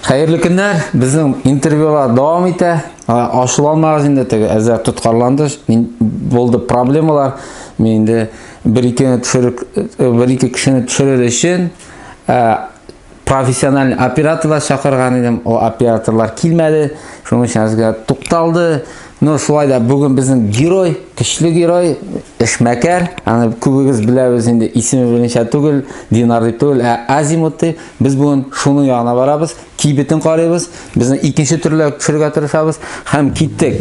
Хәерле көннәр, безнең интервьюлар дәвам итә. Ашуланмагыз инде теге әзәр тоткарланды. Мин булды проблемалар. Мин инде бер икене төшерек бер ике кешене төшерер өчен профессиональный операторлар чакырган идем. О операторлар килмәде. Шуның өчен сезгә тукталды. Ну, шулай да бүген безнең герой, көчле герой, эшмәкәр. Аны күбегез беләбез инде, исеме беленчә түгел, Динар дип түгел, ә Азимут дип. Без бүген шуның ягына барабыз, кибетен карыйбыз, безне икенче төрле төшерергә тырышабыз һәм киттек.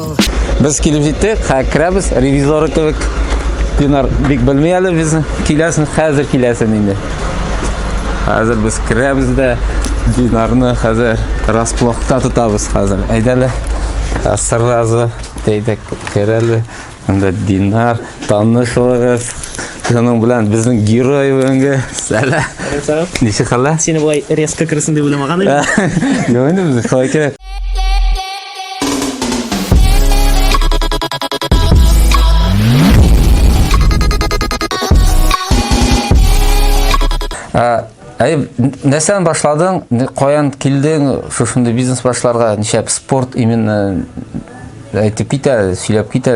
Без килеп җиттек, хә керәбез, ревизоры кебек. Динар бик белми әле без киләсен, хәзер киләсен инде. Хәзер без керәбез дә Динарны хәзер расплохта тотабыз хәзер. Әйдәле. Сразу әйдәк керәле. Анда Динар танышыгыз. Шуның белән безнең герой бүгенге сәлә. Ничек хәлләр? Сине болай резко керсен дип уйламаган идем. Юк инде, шулай кирәк. Әй, нәрсәдән башладың? Каян килдең шушындый бизнес башларга? Нишләп спорт именно әйтеп китә, сөйләп китә.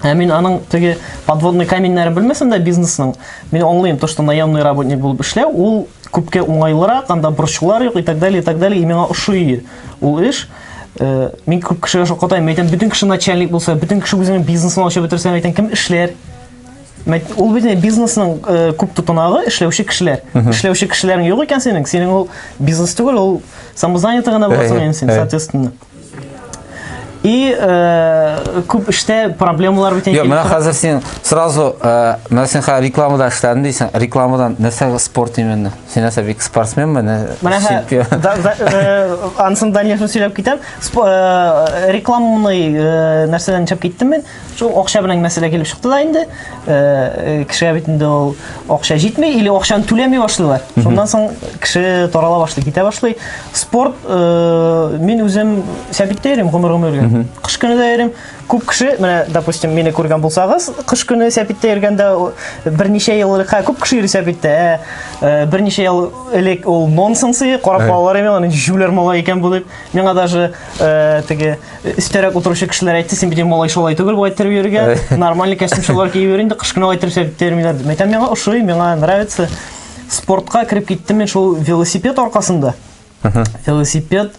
Ә мин аның теге подводный каменьнәрен белмәсәм дә бизнесның, мин аңлыйм, то, что наемный работник булып эшләү, ул күпкә уңайлырак, анда борчулар юк и так далее, и так далее, и миңа ошый ул эш. Э, мин күп кешегә шаккатайм, мин әйтәм, бөтен кеше начальник булса, бөтен кеше үзенең бизнесын ачып бетерсә, әйтәм, кем эшләр? Ул бит бизнесның э, күп тотынагы эшләүче кешеләр. Эшләүче кешеләрең юк икән синең, синең ул бизнес түгел, ул самозанятый гына буласың инде син, соответственно. И э, күп эштә проблемалар бит инде. Менә хәзер син сразу э, менә син хәзер рекламада эшләдең дисең. Рекламадан нәрсә спорт именно? Син нәрсә бик спортсменме? Менә э, ансын Даниловны сөйләп китәм. Э, рекламный нәрсәдән чыгып киттем мин. Шул акча белән мәсьәлә килеп чыкты да инде. Э, э, кешегә бит инде ул акча җитми или акчаны түләми башлыйлар. Шуннан соң кеше тарала башлый, китә башлый. Спорт э, мин үзем сәбиттә йөрим гомер гомергә. Кыш көне дә йөрим. Күп кеше, менә, допустим, мине күргән булсагыз, кыш көне сәбиттә йөргәндә берничә ел элек, күп кеше йөри сәбиттә. Ә, берничә ел элек ул нонсенс иде, карап балалар име, аны җүләр мала икән бу дип. Миңа даже теге Өстәрәк утыручы кешеләр әйтте, син бит малай шулай түгел, бу әйттереп йөрергә. Нормальный костюмчылар киеп йөр инде, кышкына әйттерсәк терминнәр. Мәйтәм миңа ошый, миңа нравится. Спортка кирип киттем мин шул велосипед аркасында. Велосипед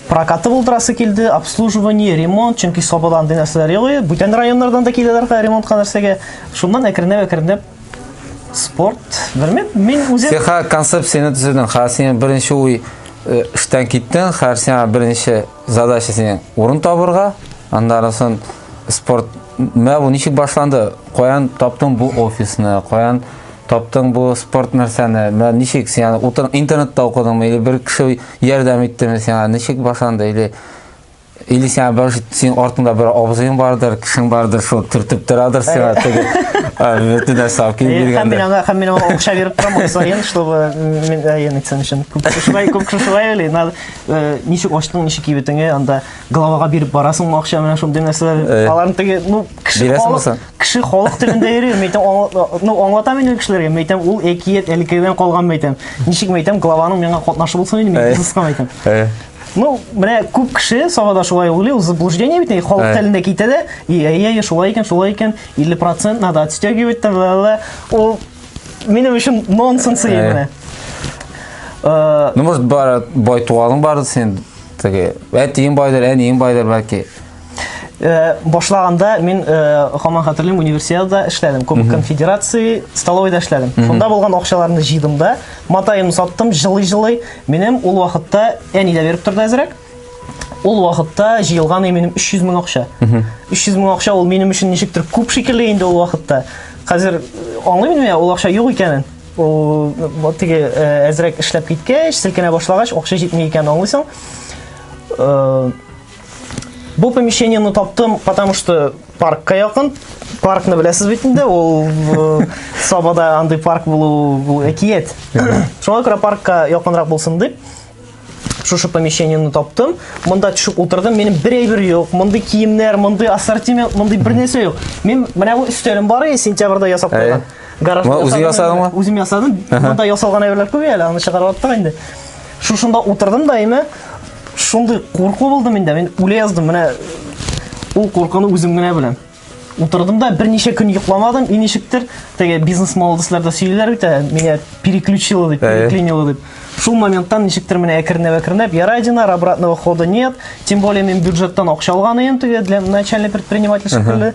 прокаты булдырасы килде, обслуживание, ремонт, чөнки Сабадан ди нәрсәләр юк. Бүтән районнардан да киләләр хәзер ремонтка нәрсәгә. Шуннан әкренләп әкренләп спорт, белмим, мин үзем Сиха концепцияне төзедең. Хәзер син беренче уй э, эштән киттең, хәзер сиңа беренче Задача синең урын табырга, андарасын спорт мә бу ничек башланды? Каян таптың бу офисны? Каян таптың бу спорт нәрсәне? Мә ничек син аны утыр интернетта укыдыңмы или бер кеше ярдәм иттеме сиңа? Ничек башланды или или сиңа бер син артыңда бер абзыең бардыр, кешең бардыр, шул төртеп торадыр сиңа теге бөтен нәрсә алып килеп биргәндер. Һәм мин аңа һәм мин аңа акча биреп торам, аксаен, чтобы мин әйен итсен өчен. Күп шулай күп шулай или надо э, ничек ачтың, ничек кибетеңе, анда головага биреп барасың акча менә шундый нәрсәләр. Э. Аларны теге, ну, кеше халык, кеше халык телендә йөри, мәйтәм, ну, аңлата мин кешеләргә, мәйтәм, ул әкият әлкедән калган мәйтәм. Ничек мәйтәм, главаның миңа катнашы булсын инде, мин кызыска э. мәйтәм. Э. Ну, менә күп кеше Сабада шулай уйлый, ул заблуждение бит, халык телендә китә дә, и, әй, әй, шулай икән, шулай икән, 50% надо отстегивать, ла-ла-ла. Ул минем өчен нонсенс иде. Э, ну, может, бар, бай туганың барды сен, теге, әтиң байдыр, әниң байдыр, бәлки. Э, башлаганда мин э, хаман хәтерлим универсиадада эшләдем кубок конфедерации столовыйда эшләдем шунда булган акчаларны җыйдым да матаемны саттым жылый жылый минем ул вакытта әни дә биреп торды әзрәк ул вакытта җыелган минем 300 мең акча 300 мең акча ул минем өчен ничектер күп шикелле инде ул вакытта хәзер э, аңлыйм мин ул акча юк икәнен Ул теге әзрәк эшләп киткәч, селкенә башлагач, акча җитми икән аңлыйсың. Бу помещениены таптым, потому что паркка якын. Паркны беләсез бит инде, ул э, Сабада андый парк булу бу әкият. Шуңа күрә паркка якынрак булсын дип, шушы помещениены таптым монда төшеп утырдым минем бер әйбер юк мондый киемнәр мондый ассортимент мондый бер нәрсә юк мин менә бу өстәлем бар иде сентябрьдә ясап куйган гаражда үзең ясадыңмы үзем ясадым монда ясалган әйберләр күп әле аны чыгарып аттык инде шушында утырдым да име шундый курку булды миндә мин үлә яздым менә ул куркуны үзем генә беләм Утырдым да берничә көн йокламадым, и ничектер, теге бизнес молодослар да сөйлиләр бит, ә, меня переключило дип, Әйе. переклинило дип. Шул моменттан ничектер менә әкренләп әкренләп, ярай динар, обратного хода нет, тем более мин бюджеттан акча алган идем теге для начальной предпринимательской көне.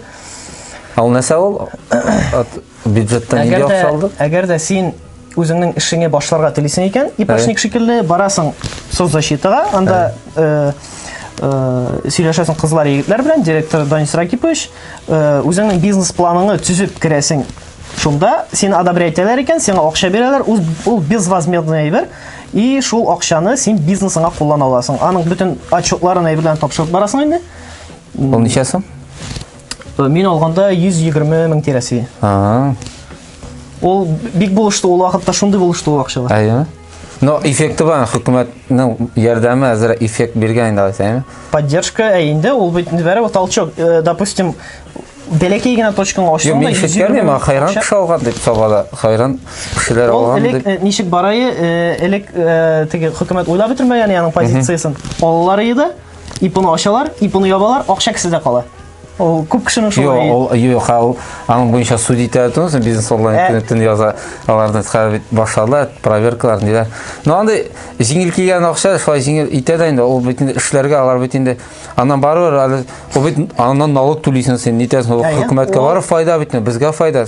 Ал нәрсә ул? Ат- Бюджеттан нинди акча алдың? Әгәр дә син үзеңнең эшеңе башларга телисең икән, ипашник шикелле барасың соцзащитага, анда э, э, сөйләшәсең кызлар егетләр белән, директор Данис Ракипович, э, үзеңнең бизнес планыңны төзеп керәсең Шунда син одобрять итәләр икән, сиңа акча бирәләр, ул, ул безвозмездный әйбер, и шул акчаны син бизнесыңа куллана аласың. Аның бөтен отчетларын әйберләрен тапшырып барасың инде. Ул ничә сум? Э, мин алганда 120 мең тирәсе. Ага. Ул бик булышты ул вакытта шундый булышты ул акчалар. Әйе. Но эффекты бар, хөкүмәтнең ярдәме әзер эффект биргән инде алайса, әйеме? Поддержка ә инде ул бит бәрә толчок, э, допустим, бәләкәй генә точкаңа ачтың да. Мин шешкәнем, ә хайран кеше алган дип сабада, хайран кешеләр алган дип. Ул элек э, ничек барайы, элек теге хөкүмәт уйлап бетермәгән яның позициясен. Аллар иде. ипоны ачалар, ипоны ябалар, акча кесәдә кала. Ул күп кешенең шулай. Юк, ул юк, ул аның буенча суд итә торсын, бизнес онлайн ә... төн яза, аларны хәзер башлады, проверкалар диләр. Но анда җиңел килгән акча шулай җиңел итә дә инде, ул бит инде эшләргә алар бит инде. Аннан барыбер әле ул бит аннан налог түлисең син, нитәсең, хөкүмәткә барып файда бит, безгә файда.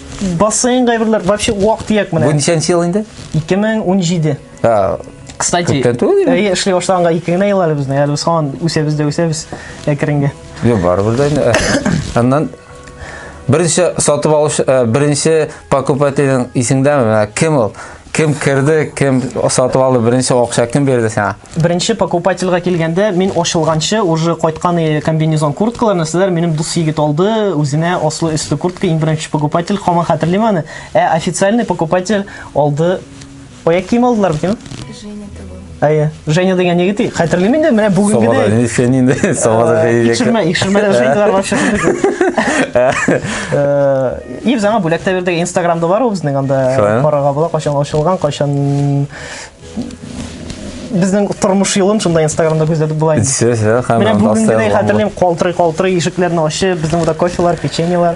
Бассейн кайберләр вообще вак дияк менә. Бу ничәнче ел инде? 2017. А, Кстати, Күптән түгел инде. әйе, эшли башлаганга ике генә ел әле безнең. Әле без һаман үсәбез дә үсәбез әкренге. Йо, барыбер дә инде. Аннан беренче сатып алушы, ә, беренче покупательнең исеңдәме? Менә Кем ул? Кем керде, кем сатып алды, беренче акча кем бирде сиңа? Беренче покупательга килгәндә мин ачылганчы уже кайткан э, комбинезон курткалар нәрсәләр минем дус егет алды үзенә аслы өсле куртка иң беренче покупатель хаман хәтерлим аны ә официальный покупатель алды аяк кием алдылар бит Женя Әйе. Женя дигән егет и- хәтерлим инде, менә бүгенге Собада дә. ничә инде? Собада Э, җәйдәк. Икшермә, икшермәдә Женялар бар чыгып. Э, И без аңа бүләк тә бирдек, Инстаграмда бар ул безнең анда Шулай, а? карарга була, кайчан ачылган, кайчан безнең тормыш юлын шунда Инстаграмда күзәтеп була инде. Все, все, Менә һәм бүгенгедәй хәтерлим, калтырый-калтырый ишекләрне ачып, безнең монда кофелар, печеньелар.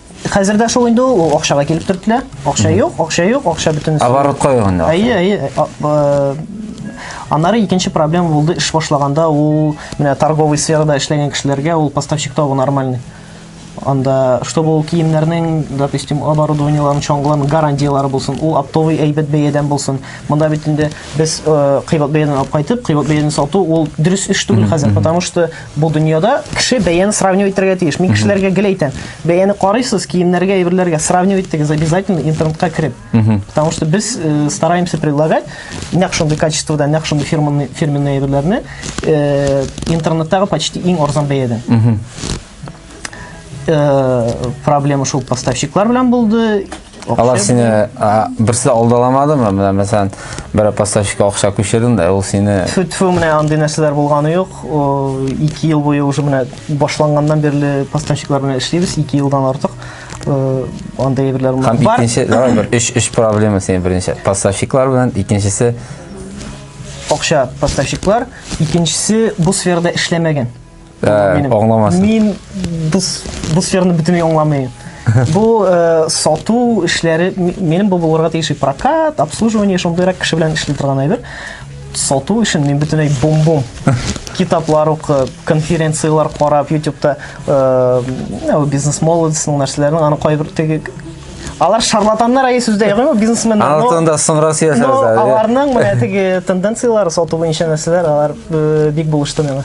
Хәзер дә шул инде ул акчага килеп төртелә. Акча юк, акча юк, акча бөтен. Оборотка юк инде. Әйе, әйе. Аннары икенче проблема булды эш башлаганда ул менә торговый сферада эшләгән кешеләргә ул поставщик табу нормальный. Анда, чтобы ул киемнәрнең, допустим, оборудованиеларын, чаңгыларын гарантиялары булсын, ул оптовый әйбәт бәядән булсын. Монда бит инде без э, кыйбат бәядән алып кайтып, кыйбат бәядән сату ул дөрес эш түгел хәзер, потому что Бу дөньяда кеше бәяне сравнивать итәргә тиеш. Мин кешеләргә гел әйтәм, бәяне карыйсыз, киемнәргә, әйберләргә сравнивать итегез обязательно интернетка кереп. Потому что без э, стараемся предлагать нәкъ шундый качествода, нәкъ шундый фирменный, фирменный әйберләрне э, интернеттагы почти иң арзан бәядән. э, проблема шул поставщиклар белән булды алар сине берсе алдаламадымы менә мәсәлән бер поставщикка акча күчердең да ул сине тфү тфү менә андый нәрсәләр булганы юк ике ел буе уже менә башланганнан бирле поставщиклар белән эшлибез ике елдан артык э, андый әйберләр бар һәм икенче давай бер өч өч проблема синең беренче поставщиклар белән икенчесе акча поставщиклар икенчесе бу сферада эшләмәгән Ә, аңламасын. Мин бу бу сфераны бөтенләй аңламыйм. Бу э, сату эшләре минем бу булырга тиеш прокат, обслуживание шундыйрак кеше белән эшли торган әйбер. Сату өчен мин бөтенләй бум-бум. Китаплар укып, конференцияләр карап, YouTube-та э, бизнес молодецның нәрсәләрен аны кайбер теге Алар шарлатаннар әйе сүздә ягымы бизнесменнар. Алтын да соң Россия сәбәбе. Аларның менә теге тенденцияләре сату буенча нәрсәләр алар э, бик булышты миңа.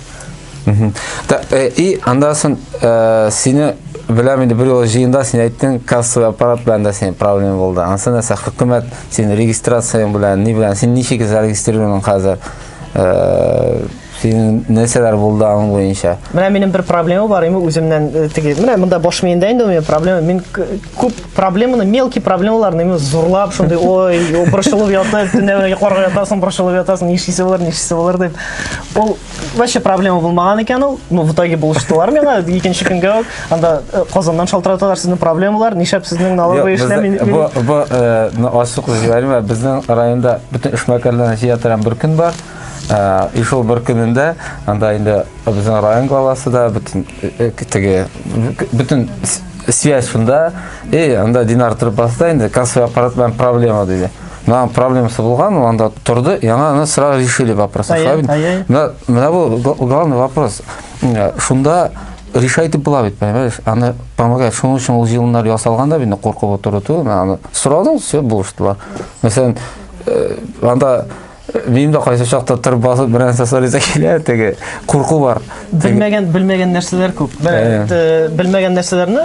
Да, э, и анда сон э, сине беләм инде бер юлы җыенда син әйттең кассовый аппарат белән дә синең проблема булды анысы нәрсә хөкүмәт син регистрацияң белән ни белән син ничек зарегистрирован хәзер э, синең нәрсәләр булды аның буенча менә минем бер проблема бар именно үземнән э, теге менә монда баш миендә инде у проблема мин күп проблеманы мелкий проблемаларны именно зурлап шундый ой борчылып ятып төнлә йокларга ятасың борчылып ятасың нишлисе болар нишлисе болар дип ул вообще проблема булмаган икән ул ну в итоге булыштылар миңа икенче көнгә үк анда э, казаннан шалтыраталар сезнең проблемалар нишләп сезнең налоговый эшләр мин бу бу э, ну, ачык җибәрмә безнең районда бөтен эшмәкәрләрне җыя торган бер көн бар э, и шул бер көнендә анда инде безнең район главасы да бөтен теге бөтен связь шунда и анда динар торып басты инде кассовый аппарат белән проблема диде мына проблемасы булган ул анда торды яңа аны сразу решили вопрос мына мына бул главный вопрос шунда решать итеп була бит понимаешь аны помогать шуның өчен ул җыелымнар ясалган да бит куркып утыру түгел аны сорадың все булыштылар мәсәлән э, анда Минем дә кайсы чакта тыр басып берәр нәрсә сорыйсы килә, теге курку бар. Белмәгән, белмәгән нәрсәләр күп. Белмәгән нәрсәләрне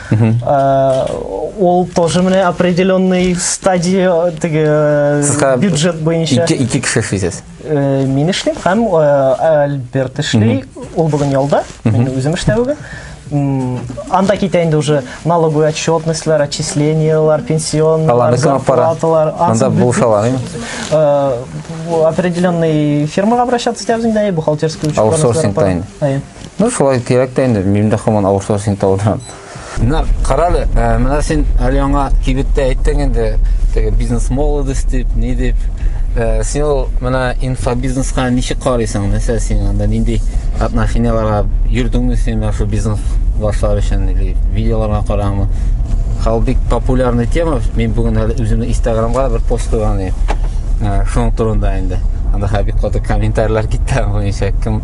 Э, ол тоже менә определенный стадия теге э, бюджет буенча ике ике кеше эшлисез э, мин эшлим һәм альберт эшли ул бүген ялда мин үзем эштә бүген анда китә инде уже налоговый отчетностьлар отчислениялар пенсионныйлар зарплаталар анда булышалар определенный фирмага обращаться итәбез инде бухгалтерский учет аутсорсинг Ну, шулай кирәк тә инде, мин дә хаман авырсыз син тавыдан. Менә карале, э, менә син әле яңа кибеттә әйттең инде, теге бизнес молодость дип, ни дип. Э, син ул менә инфобизнеска ничек карыйсың? Мәсәлән, син анда нинди отношениеларга йөрдеңме син менә шул бизнес башлар өчен или видеоларга караңмы? Хал бик популярный тема. Мин бүген әле үземнең Инстаграмга бер пост куйган идем. Э, шуның турында инде. Анда хәбик каты комментарийлар китте, буенча кем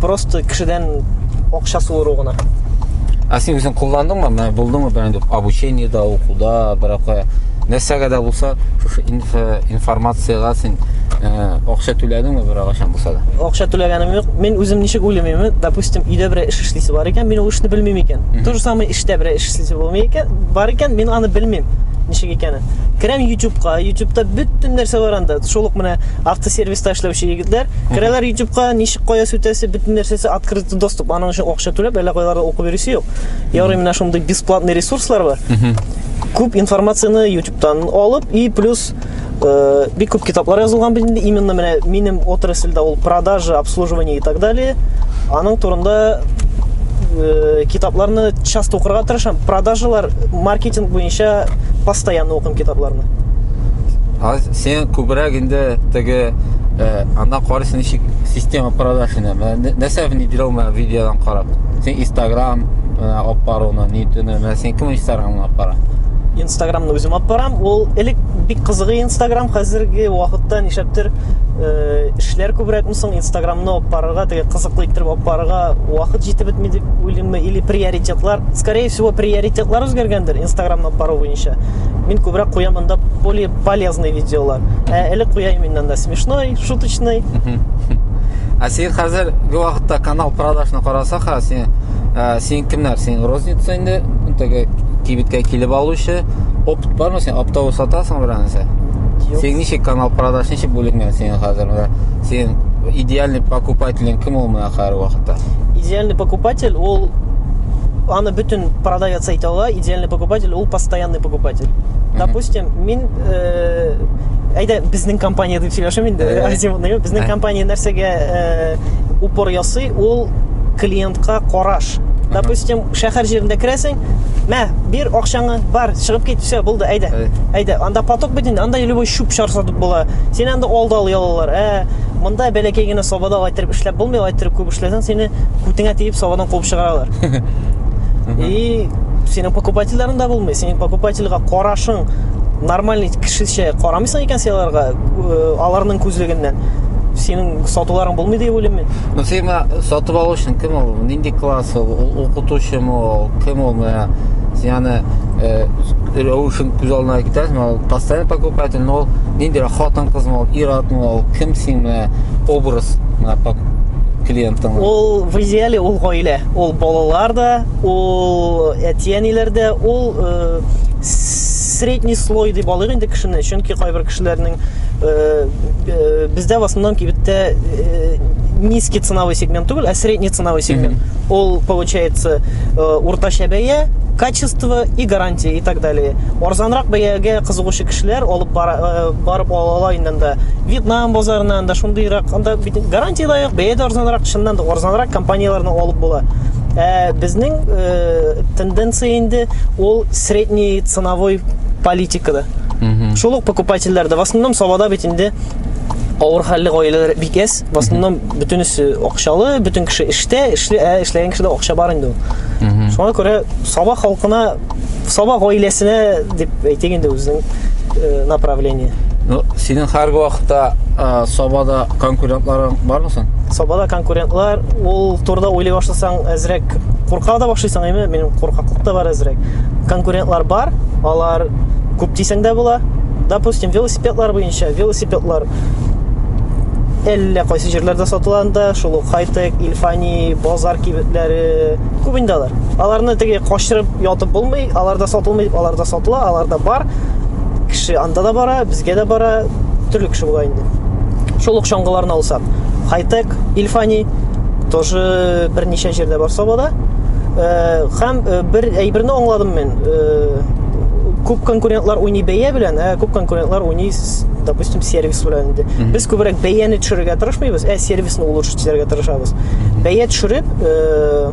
просто кешедән акча суыру гына а син үзең кулландыңмы менә булдыңмы берәндә обучениеда укуда беракая нәрсәгә дә булса шушы информациягә син акча түләдеңме беркайчан булса да акча түләгәнем юк мин үзем ничек уйлыймын допустим өйдә берәр эш эшлисе бар икән мин ул эшне белмим икән то же самое эштә берәр эш эшлисе булмый икән бар икән мин аны белмим ничек икәнен керәм ютубка ютубта бөтен нәрсә бар анда шул ук менә автосервис Ста эшләүче егетләр. Керәләр ютубка, ничек кая сүтәсе, бөтен нәрсәсе открытый доступ. Аның өчен акча түләп, әллә кайларда укып йөрисе юк. Ярый менә шундый бесплатный ресурслар бар. Күп информацияне ютубтан алып и плюс э, бик күп китаплар язылган бит инде именно менә минем отрасльдә ул продажа, обслуживание и так далее. Аның турында э, китапларны часто укырга тырышам. Продажалар, маркетинг буенча постоянно укыйм китапларны. сен күбрәк инде теге э, анда карыйсың ничек система продаж инде нәрсә внедрил менә видеодан карап сен инстаграм э, алып баруны нитүне менә сен кем инстаграмны алып бара инстаграмны үзем алып барам ул элек бик кызыгы инстаграм хәзерге вакытта нишләптер э, эшләр күбрәкме соң инстаграмны алып барырга теге кызыклы иттереп алып барырга вакыт җитеп бетми дип уйлыйммы или приоритетлар скорее всего приоритетлар үзгәргәндер инстаграмны алып бару буенча Мин күбрәк куя монда более полезный видеолар. Ә элек куя именно да смешной, шуточный. Ә син хәзер бу вакытта канал продажны караса ха, син ә, син кемнәр? Син розница инде, теге кибеткә килеп алучы. Опыт бармы син? Оптовый сатасың берәнсә? Син ничек канал продаж ничек бүленгән синең хәзер? Син идеальный покупателең кем ул менә хәзер вакытта? Идеальный покупатель ул аны бөтен продавец әйтә ала, идеальный конкретный покупатель ул постоянный покупатель допустим мин э, әйдә безнең компания дип сөйләшәм инде азимутныйга безнең компания нәрсәгә э, упор ясый ул клиентка караш допустим шәһәр җирендә керәсең мә бир акчаңны бар чыгып кит все булды әйдә әйдә анда поток бит инде анда любой чүп чар сатып була син анда алда алый алалар ә монда бәләкәй генә сабада алайтырып эшләп булмый алайтырып күп эшләсәң сине күтеңә тиеп сабадан куып чыгаралар и синең покупательләрен дә булмый синең покупательгә карашың нормальный кешечә карамыйсың икән син аларга э, аларның күзлегеннән синең сатуларың булмый дип уйлыйм мин ну син сатып алучың кем ул нинди класс ул укытучымы ул кем ул менә яны э, рәвешен күз алдына китерәсең ул постоянно покупатель но ул нинди хатын кызмы ул ир атмы ул кем син менә образ клиентың ул в идеале ул гаилә ул балалар да Ул әти-әниләрдә ул средний слой дип алыйк инде кешене, чөнки кайбер кешеләрнең бездә в основном кибеттә низкий ценовой сегмент түгел, а средний ценовой сегмент. Ул получается уртача бәя, качество и гарантия и так далее. Арзанрак бәягә кызыгучы кешеләр алып барып алалар инде анда. Вьетнам базарыннан да шундыйрак анда Бит гарантия да юк, бәя дә арзанрак, чыннан да арзанрак компанияләрне алып була. Ә безнең э, тенденция инде ул средний ценовой политикада. Шул ук покупательләрдә, в основном Сабада бит инде авыр хәлле гаиләләр бик әз. В основном бөтенесе акчалы, бөтен кеше эштә, эшле, ә эшләгән кешедә акча бар инде ул. Шуңа күрә Саба халкына Саба гаиләсенә дип әйтик инде үзенең э, направление. Ну, синең һәрге вакытта ә, Сабада конкурентларың бармы соң? Сабада конкурентлар, ул турда уйлый башласаң, әзрәк курка да башлыйсың, әйме, минем куркаклык та бар әзрәк. Конкурентлар бар, алар күп дисәң дә була. Допустим, велосипедлар буенча, велосипедлар әллә кайсы җирләрдә сатыла анда, шул ук Хайтек, Ильфани, Базар кибетләре, Күп инде алар. Аларны теге качырып ятып булмый, аларда сатылмый, аларда сатыла, аларда бар. Кеше анда да бара, безгә дә бара, төрле кеше була инде. Шул ук чаңгыларны алсак, Хайтек, Ильфани тоже берничә җирдә бар Сабада. Э, һәм э, бер әйберне аңладым мин. Э, күп конкурентлар уйный бәя белән, ә күп конкурентлар уйный, допустим, сервис белән инде. Без күбрәк бәяне төшерергә тырышмыйбыз, ә сервисны улучшить кичерергә тырышабыз. Бәя төшереп, э,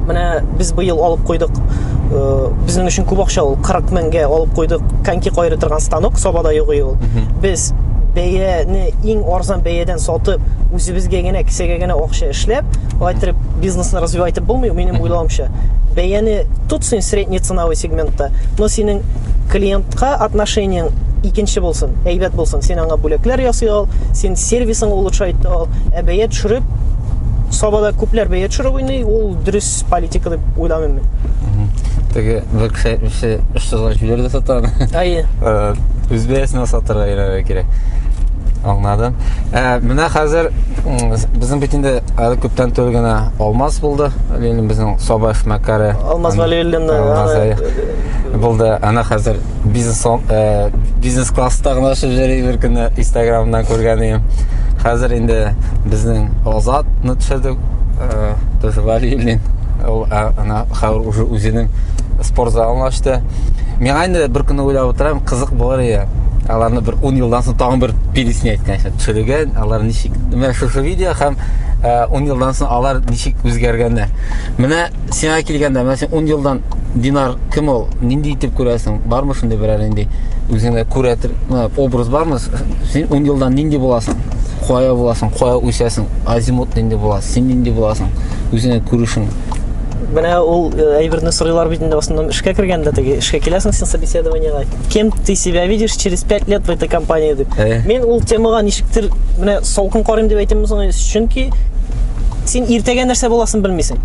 менә без быел алып куйдык, э, безнең өчен күп акча ул, 40 меңгә алып куйдык коньки кайрый торган станок, Сабада юк ул. Без бәяне иң арзан бәядән сатып, үзебезгә генә кесәгә генә акча эшләп, алайтып бизнесны развивать итеп булмый, минем уйлавымча. Бәяне тот син средний ценовой сегментта, но синең клиентка отношениең икенче булсын, әйбәт булсын, син аңа бүләкләр ясый ал, син сервисын улучшай итте ул. Ә бәя төшереп, Сабада күпләр бәя төшереп уйный, ул дөрес политика дип уйламыйм мин. Теге бер кеше әйтмешче, өч тозга җибәрде сатан. Әйе. Үз бәясенә сатырга өйрәнергә кирәк. Аңладым. Ә, менә хәзер безнең бит инде әле күптән түгел генә Алмаз булды. Ленин безнең Саба эшмәкәре. Алмаз Валиуллин булды. Ана хәзер бизнес э, бизнес класста гына очып йөри бер көнне инстаграмнан күргән идем хәзер инде безнең азатны төшердек э, тоже валилин ул э, ана хәзер уже үзенең спорт залын ачты миңа инде бер көнне уйлап утырам кызык булыр иде аларны бер ун елдан соң тагын бер пилисне әйткәнчә төшерегән алар ничек менә шушы видео һәм ун елдан соң алар ничек үзгәргәннәр менә Сиңа килгәндә, менә син 10 елдан Динар кем ул? Нинди итеп күрәсең? Бармы шундый берәр нинди үзеңдә күрәтер, менә образ бармы? Син 10 елдан нинди буласың? Кая буласың? Кая үсәсең? Азимут нинди була? Син нинди буласың? Үзеңә күрешең. Менә ул э, әйберне сорыйлар бит инде басыннан эшкә кергәндә теге эшкә киләсең син собеседованиега. Кем ты себя видишь через 5 лет в этой компании дип. Э. Мин ул темага ничектер менә салкын карыйм дип әйтәм соң, чөнки Син иртәгә нәрсә буласын белмисең.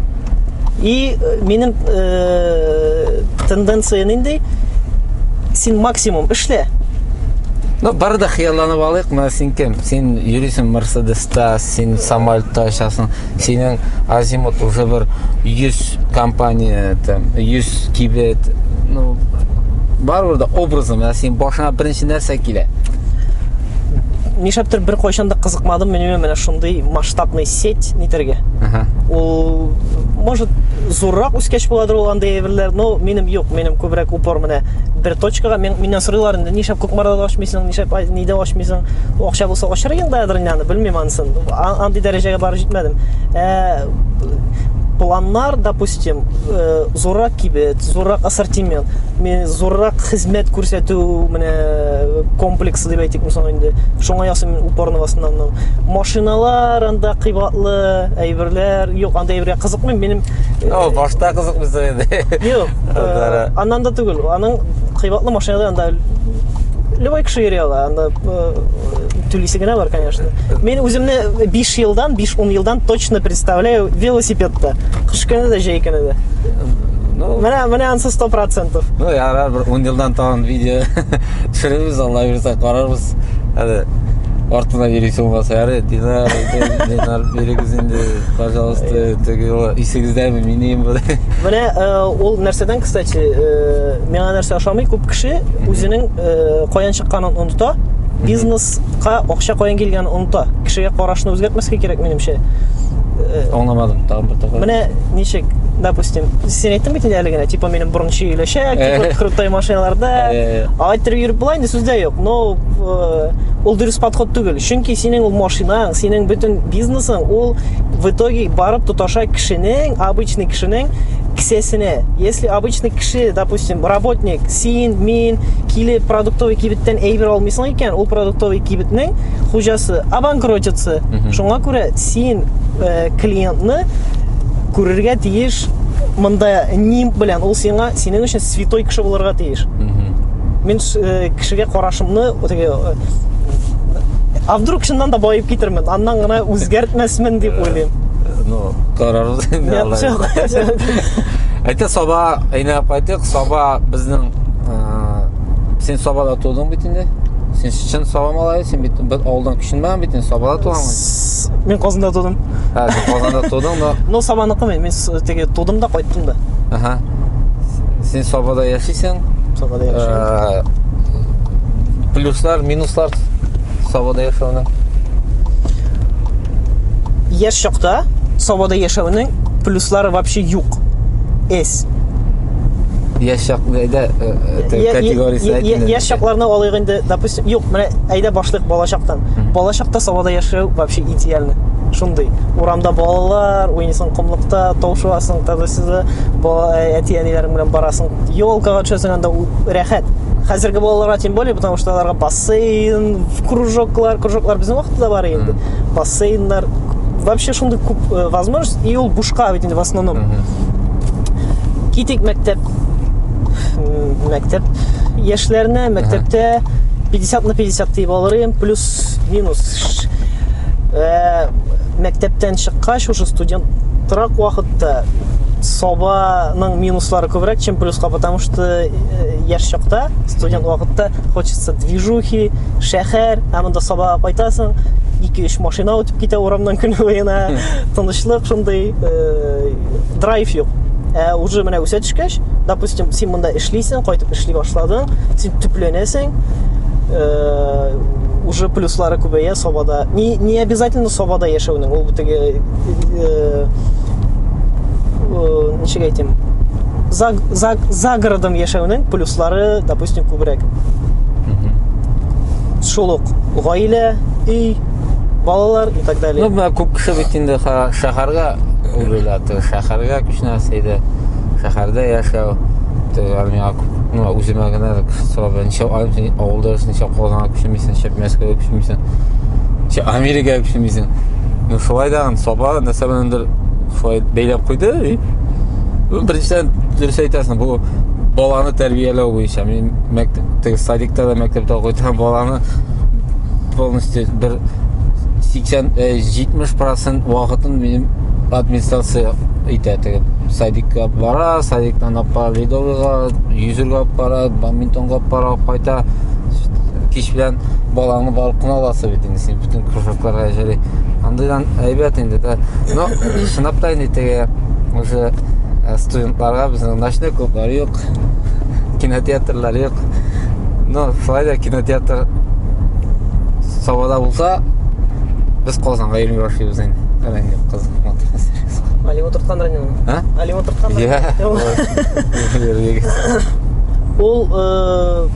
И э, минем э, тенденция нинди? Син максимум эшлә, Ну, бары да хыялланып алыйк, менә син кем? Син йөрисең Мерседеста, син самолетта очасың, синең азимут уже бер 100 компания, там, 100 кибет, ну, барыбер да образы, менә син башыңа беренче нәрсә килә? нишләптер бер кайчан да кызыкмадым мин менә шундый масштабный сеть нитәргә ул может зуррак үскәч буладыр ул андый әйберләр но минем юк минем күбрәк упор менә бер точкага мен, миннән сорыйлар инде нишләп кукмарада ачмыйсың нишләп нидә ачмыйсың акча булса ачыр идең да әдерне аны белмим анысын андый дәрәҗәгә барып җитмәдем ә, планнар допустим э, Зуррак кибет, зуррак ассортимент, зуррак хезмәт күрсәтү менә э, комплексы дип әйтик соң инде. Шуңа ясыйм мин упорны в основном. Машиналар анда кыйбатлы, әйберләр, юк, анда әйбергә кызыкмыйм. Минем э, О, башта кызыкмыйсың инде. Юк. Э, аннан да түгел. Аның кыйбатлы машиналар анда любой кеше йөри ала. Анда түлисе генә бар, конечно. Мин үземне 5 елдан, 5-10 елдан точно представляю велосипедта. Кыш көне дә, җәй көне дә. Ну, Менә менә ансы 100%. ну ярар, бер 10 елдан тагын видео төшерербез, Алла бирсә карарбыз. Әле артына йөрисең булмаса, ярый, динар, дин- динар бирегез инде, пожалуйста, теге юлы исегездәме, минем бу. Менә э, ул нәрсәдән, кстати, э, миңа нәрсә ошамый, күп кеше үзенең э, каян чыкканын оныта. Бизнес Ка акча каян килгәнен оныта. Кешегә карашны үзгәртмәскә кирәк, минемчә. Э, Аңламадым, тагын бер тапкыр. Менә ничек, допустим, син әйттең бит әле генә, типа минем борынчы өләшәк, типа э. крутой машиналарда. Э. Алай итеп йөреп була инде сүздә юк. Но ул дөрес подход түгел. Чөнки синең ул машинаң, синең бөтен бизнесың ул в итоге барып тоташа кешенең, обычный кешенең кесәсенә. Если обычный кеше, допустим, работник Син, мин килеп продуктовый кибеттән әйбер алмыйсың икән, ул продуктовый кибетнең хуҗасы обанкротится. Шуңа күрә син э, клиентны күрергә тиеш монда ним белән ул сиңа синең өчен святой кеше булырга тиеш. Мин э, кешегә карашымны теге э, а вдруг чыннан да баеп китермен, аннан гына үзгәртмәсмен дип уйлыйм. Карарбыз инде. Япчак. Әйтә саба әйнәп кайтык. Саба безнең син сабада тудың бит инде. Син чын саба малай, син бит бер авылдан күченмәгән бит, син сабада туганмын. Мин Казанда тудым. Ха, син Казанда тудың, но Ну, сабаныкы мин, мин теге тудым да кайттым да. Аха. Син сабада яшисең. Сабада яшисең. Плюслар, минуслар сабада яшәүнең. яшь чакта Сабада яшәүнең плюслары вообще юк. Эс. Яшь чак әйдә э, э, категориясе әйтелде. Яшь чакларны алыйк инде, допустим, юк, менә әйдә башлык балачактан. Балачакта Сабада яшәү вообще идеально. Шундый. Урамда балалар, уйныйсың комлыкта, таушуасың, тадысызы, э, әти-әниләрең белән барасың. Елкага төшәсең анда рәхәт. Хәзерге балаларга тем более, потому что аларга бас бассейн кружоклар кружоклар безнең вакытта да бар инде бассейннар вообще шундый күп э, возможность и ул бушка бит инде в основном китик мәктәп мәктәп яшьләренә мәктәптә 50 на 50 дип алырым плюс минус э, мәктәптән чыккач уже студент торак вакытта собаның минуслары күбрәк чем плюска потому что э, яшь чакта студент вакытта хочется движухи, шәһәр, ә монда сабага кайтасың, ике-өч машина үтеп китә урамнан көн буена, тынычлык шундый, э, драйв юк. Ә уже менә үсә төшкәч, допустим, син монда эшлисең, кайтып эшли башладың, син төпләнәсең, э, уже плюслары күбәя сабада. Не, не обязательно сабада яшәүнең, ул битеге э, э, ничек әйтим, за, за, за городом яшәүнең плюслары, допустим, допустим, күбрәк. Шул ук гаилә, өй, балалар и так далее. Ну, күп кеше бит инде шәһәргә үрелә, шәһәргә күченә сәйдә, шәһәрдә яшәү, армиягә күп ну, үземә генә сорап ничә айым авылда ничә казанга күчмисең ничә мәскәүгә күчмисең ничә америкага күчмисең ну шулай да саба нәрсә беләндер шулай бәйләп куйды и ну беренчедән дөрес әйтәсең бұл баланы тәрбияләү буенча мин мәктәптә садикта да мәктәптә укыйтам баланы полностью бер 80 70 процент вакытын минем администрация итә теге садикка бара садиктан алып бара ледовыйга йөзергә алып бара бадминтонга алып бара алып кайта кич белән балаңны барып кына аласы бит инде син бөтен кружокларга җәли андыйдан әйбәт инде да но чынлап та инде теге уже Барга безнең ночной клублар юк, кинотеатрлар юк. Но шулай да кинотеатр Сабада булса, без Казанга йөри башлыйбыз инде. Рәнг юк кыз. Али утырткан рәнг. А? Али утырткан. Я. Ул э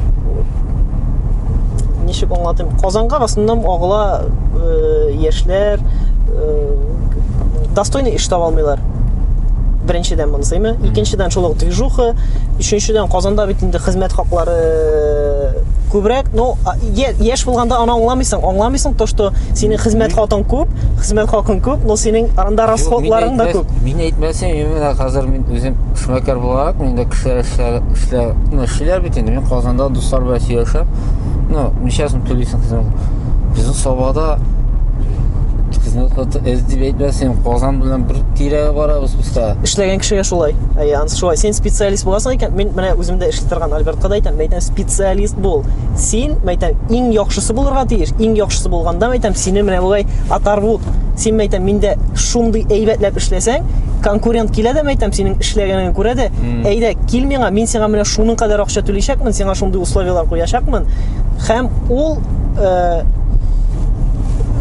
ничек аңлатыйм? Казанга расыннан агыла э, яшьләр э, достойный эш таба алмыйлар беренчедән монысыймы икенчедән шул ук движуха өченчедән казанда бит инде хезмәт хаклары күбрәк ну яшь булганда аны аңламыйсың аңламыйсың то что синең хезмәт хакың күп хезмәт хакың күп но синең арында расходларың да күп мин әйтмәсәм именно хәзер мин үзем эшмәкәр буларак мин дә кешеләр эшләр ну эшлиләр бит инде мин казанда дуслар белән сөйләшәм ну ничә сум түлисең хезмәт безнең сабада хезмәт Эз дип әйтмәсен, Казан белән бер тирәгә барабыз бусда. Эшләгән кешегә шулай. Әй, ансы шулай. Син специалист буласың икән, мин менә үзем дә эшли торган Альбертка да әйтәм, мәйтәм, специалист бул. Син, мәйтәм, иң яхшысы булырга тиеш. Иң яхшысы булганда, мәйтәм, сине менә болай атарбу. Син, мәйтәм, миндә шундый әйбәтләп эшләсәң, конкурент килә дә, мәйтәм, синең эшләгәнеңне күрә дә, әйдә, кил миңа, мин сиңа менә шуның кадәр акча түләячәкмен, сиңа шундый условияләр куячакмын. Һәм ул э,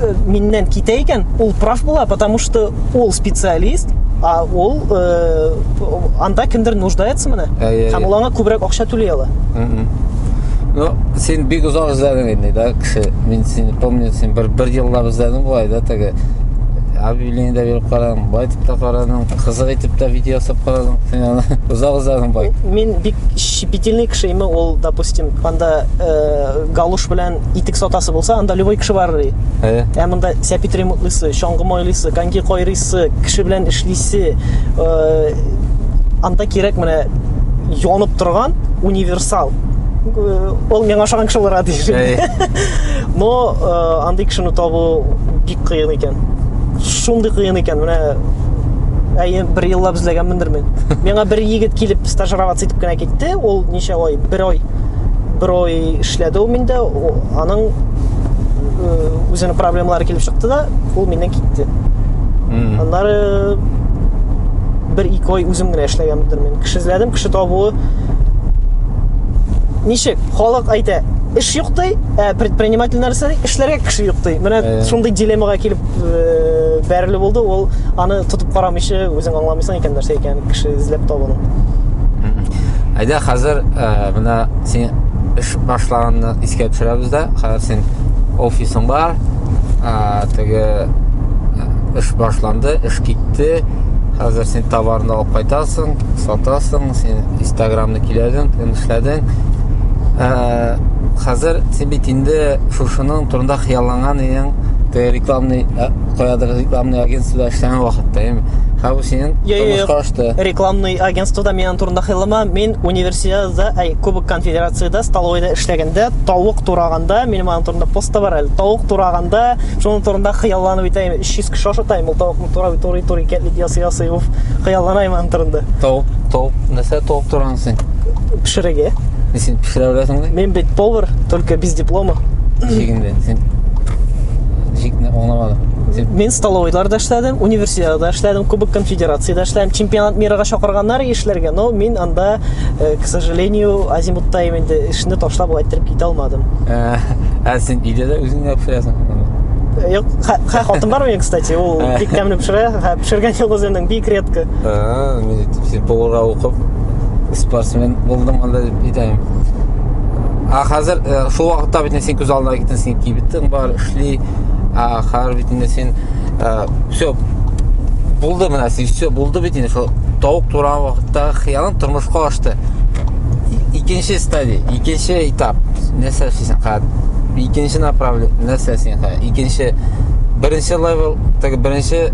э, миннән китә икән, ул прав була, потому что ул специалист, а ул э, анда кемдер нуждается менә. Һәм ул аңа күбрәк акча түли ала. Ну, син бик озак эзләдең инде, да, кеше. Мин сине помню, син бер бер еллап эзләдең булай, да, теге объявление дә биреп карадың, былай итеп тә карадың, кызык итеп тә видео ясап карадың. Син аны озак эзләдең бай. Мин бик Щепетильный кеше име ул, допустим, анда э, галуш белән итек сатасы булса, анда любой кеше бар ди. Әйе. Ә монда сәпит ремонтлыйсы, чаңгы майлыйсы, коньки кайрыйсы, кеше белән эшлисе, э, анда кирәк менә янып торган универсал. Э, Ул миңа ошаган кеше булырга тиеш. Әйе. Но э, андый кешене табу кыен икән. Шундый кыен икән, менә әйе, бер еллап эзләгәнмендер мин. Миңа бер егет килеп стажироваться итеп кенә китте. Ул ничә ай? Бер ай. Бер ай эшләде ул миндә. Аның үзенең проблемалары килеп чыкты да, ул миннән китте. Аннары бер ике ай үзем генә эшләгәнмендер мин. Кеше эзләдем, кеше табуы ничек? Халык әйтә, эш юк ди, ә предпринимательләр Эшләргә кеше юк ди. Менә э. шундый дилеммага килеп э, бәреле булды. Ул аны тотып карамыйча үзең аңламыйсың икән нәрсә икән кеше эзләп табуны. Әйдә хәзер э, менә син эш башлаганны искә төшерәбез дә. Хәзер син офисың бар. Теге эш башланды, эш китте. Хәзер син товарны алып кайтасың, сатасың, син Инстаграмны киләдең, эшләдең. Хәзер син бит инде шушының турында хыялланган идең, ты рекламный, ә, каядыр рекламный агентствода эшләгән вакытта, яме. Хәзер синең Йо, йо, тормыш йо. карашты. Рекламный агентствода мин аның турында хыяллама. Мин универсиадада, әй, Кубок конфедерацияда, столовойда эшләгәндә, тавык тураганда, минем аның турында пост та бар әле. Тавык тураганда, шуның турында хыялланып итәем. 300 кеше ашатаем, ул тавыкны турап, турый, турый, кәтлит ясый, ясый. Уф, хыялланаем аның турында. Тавык, тавык, нәрсә тавык туран Син пешерегә. Син пешерә беләсең бит. Мин бит повар, только без диплома. Шигендә. Син шикне аңламадым. Син Мин столовойларда эшләдем, университетта эшләдем, Кубок конфедерациядә эшләдем. Чемпионат мирага чакырганнар эшләргә, но мин анда, э, к сожалению, азимутта инде эшне ташлап алай иттереп китә алмадым. Ә, ә син өйдә дә үзең генә пешерәсең. Э, Юк, хә, хә, хатын бар минем, кстати, ул бик тәмле пешерә, хә, пешергән йолдызының бик редко. футболга укып спортсмен булдым анда дип әйтәм а хәзер э, шул вакытта бит син күз алдына киттең син кибетең бар эшли а хәзер бит инде син э, все булды менә син все булды бит инде шул тавык тураган вакытта хыялың тормышка ашты икенче стадия икенче этап нәрсә эшлисең хәзер икенче направление нәрсә син хәзер икенче беренче левел теге беренче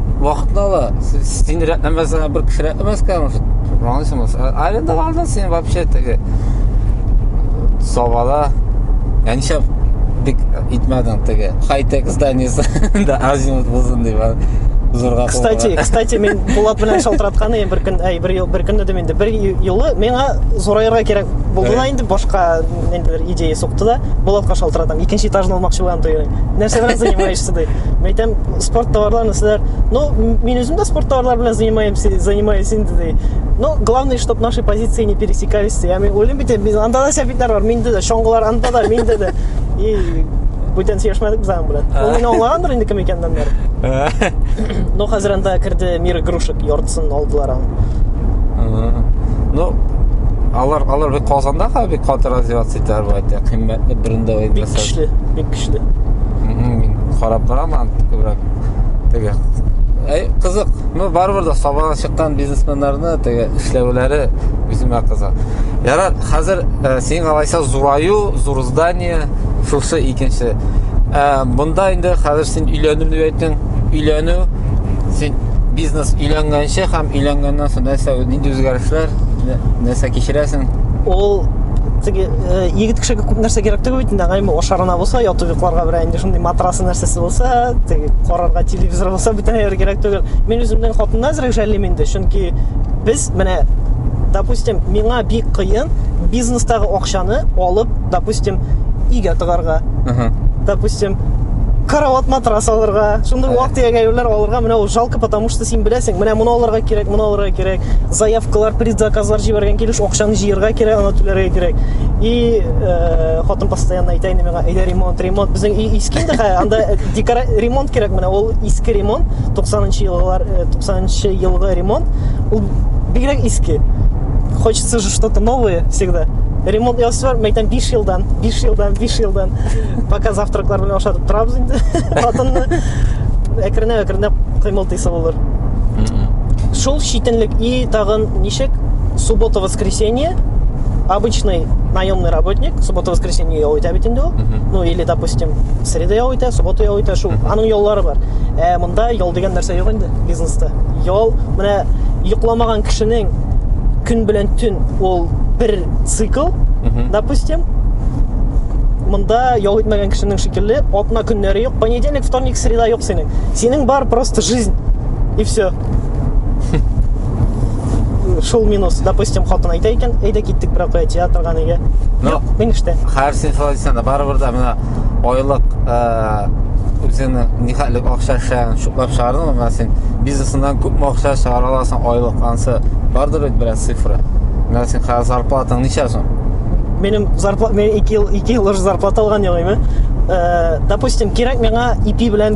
вакытны ала. Син рәтләмәсәң, бер кеше рәтләмәскә может. Аңлыйсың булса. Аренда алда син вообще теге савала. Я ничә бик итмәдең теге. Хай-тек зданиесе да азимут булсын дип. Зурга. Кстати, кстати, мин Булат белән шалтыраткан идем бер көн, әй, бер бер көн дидем инде. Бер юлы миңа зураерга кирәк булды да инде башка нендер идея сукты да, Булатка шалтыратам. Икенче этажны алмакчы булам тойрый. Нәрсә белән занимаешься? ди. Мин әйтәм, спорт товарларны сезләр, ну, мин үзем дә спорт товарлары белән занимаемся, занимаюсь инде ди. Ну, главное, чтобы наши позиции не пересекались ди. Я мин уйлыйм бит, без анда да сәбитләр бар, миндә дә, чоңгылар анда да, миндә дә. И бүтән сөйләшмәдек без аның белән. Ул мине аңлагандыр инде кем икәнен бер. Ну, хәзер анда керде мир игрушек яртысын алдылар аңа. Ну, алар алар бик Казанда бик каты развиваться итәләр бу әйтә. Кыйммәтле брендовый. Бик көчле. көчле. Мин карап торам күбрәк. Теге Әй, кызык. Ну, барыбер дә сабага чыккан бизнесменнарны теге эшләүләре үземә кызык. Ярат, хәзер ә, син алайса зураю, зур здание, шусы икенче. Ә, монда инде хәзер син өйләнү дип әйттең. Өйләнү син бизнес өйләнгәнче һәм өйләнгәннән соң нәрсә нинди үзгәрешләр, нәрсә кичерәсең? Ул теге э, егет кешегә күп нәрсә кирәк түгел бит инде аңайма ашарына булса ятып йокларга берәр инде шундый матрасы нәрсәсе булса теге карарга телевизор булса бөтен нәрсә кирәк түгел мин үземнең хатынны әзрәк жәллим инде чөнки без менә допустим миңа бик кыен бизнестагы акчаны алып допустим өйгә тыгарга допустим карават матрас алырга шундый вак тирәк әйберләр алырга менә ул жалко потому что син беләсең менә моны алырга кирәк моны алырга кирәк заявкалар, предзаказлар җибәргән килеш акчаны җыярга кирәк, аны түләргә кирәк. И э, хатын постоянно әйтә инде миңа, әйдә ремонт, ремонт. Безнең өй иске инде, анда э, декора ремонт кирәк менә. Ул иске ремонт, 90-нчы еллар, 90-нчы э, елгы ремонт. Ул бигрәк иске. Хочется же что-то новое всегда. Ремонт ясыйсы бар, мәйтәм 5 елдан, 5 елдан, 5 елдан. Пока завтраклар белән ашатып торабыз инде. Хатынны әкренләп-әкренләп кыймылтыйсы булыр. Шул читенлек и тагын ничек суббота воскресенье обычный наемный работник суббота воскресенье ял итә бит инде ул ну или допустим среда ял итә суббота ял итә шул аның яллары бар ә монда ял дигән нәрсә юк инде бизнеста ял менә йокламаган кешенең көн белән төн ул бер цикл допустим монда ял итмәгән кешенең шикелле атна көннәре юк понедельник вторник среда юк синең Синең бар просто жизнь и все. Шул минус, допустим, хатын әйтә икән, әйдә киттек бер кая театрга нигә? Ну, Юк, мин эштә. Хәрсин Флорисанда барыбер дә менә айлык э, үзеңне нихәтлек акча эшләгән шуклап чыгардың менә син бизнесыңнан күпме акча чыгара аласың айлык ансы бардыр бит бераз цифра. Менә син хәзер зарплатаң ничә соң? Минем зарплата, мен 2 ел 2 ел уже зарплата алган яңа, Э, допустим, кирәк миңа ипи белән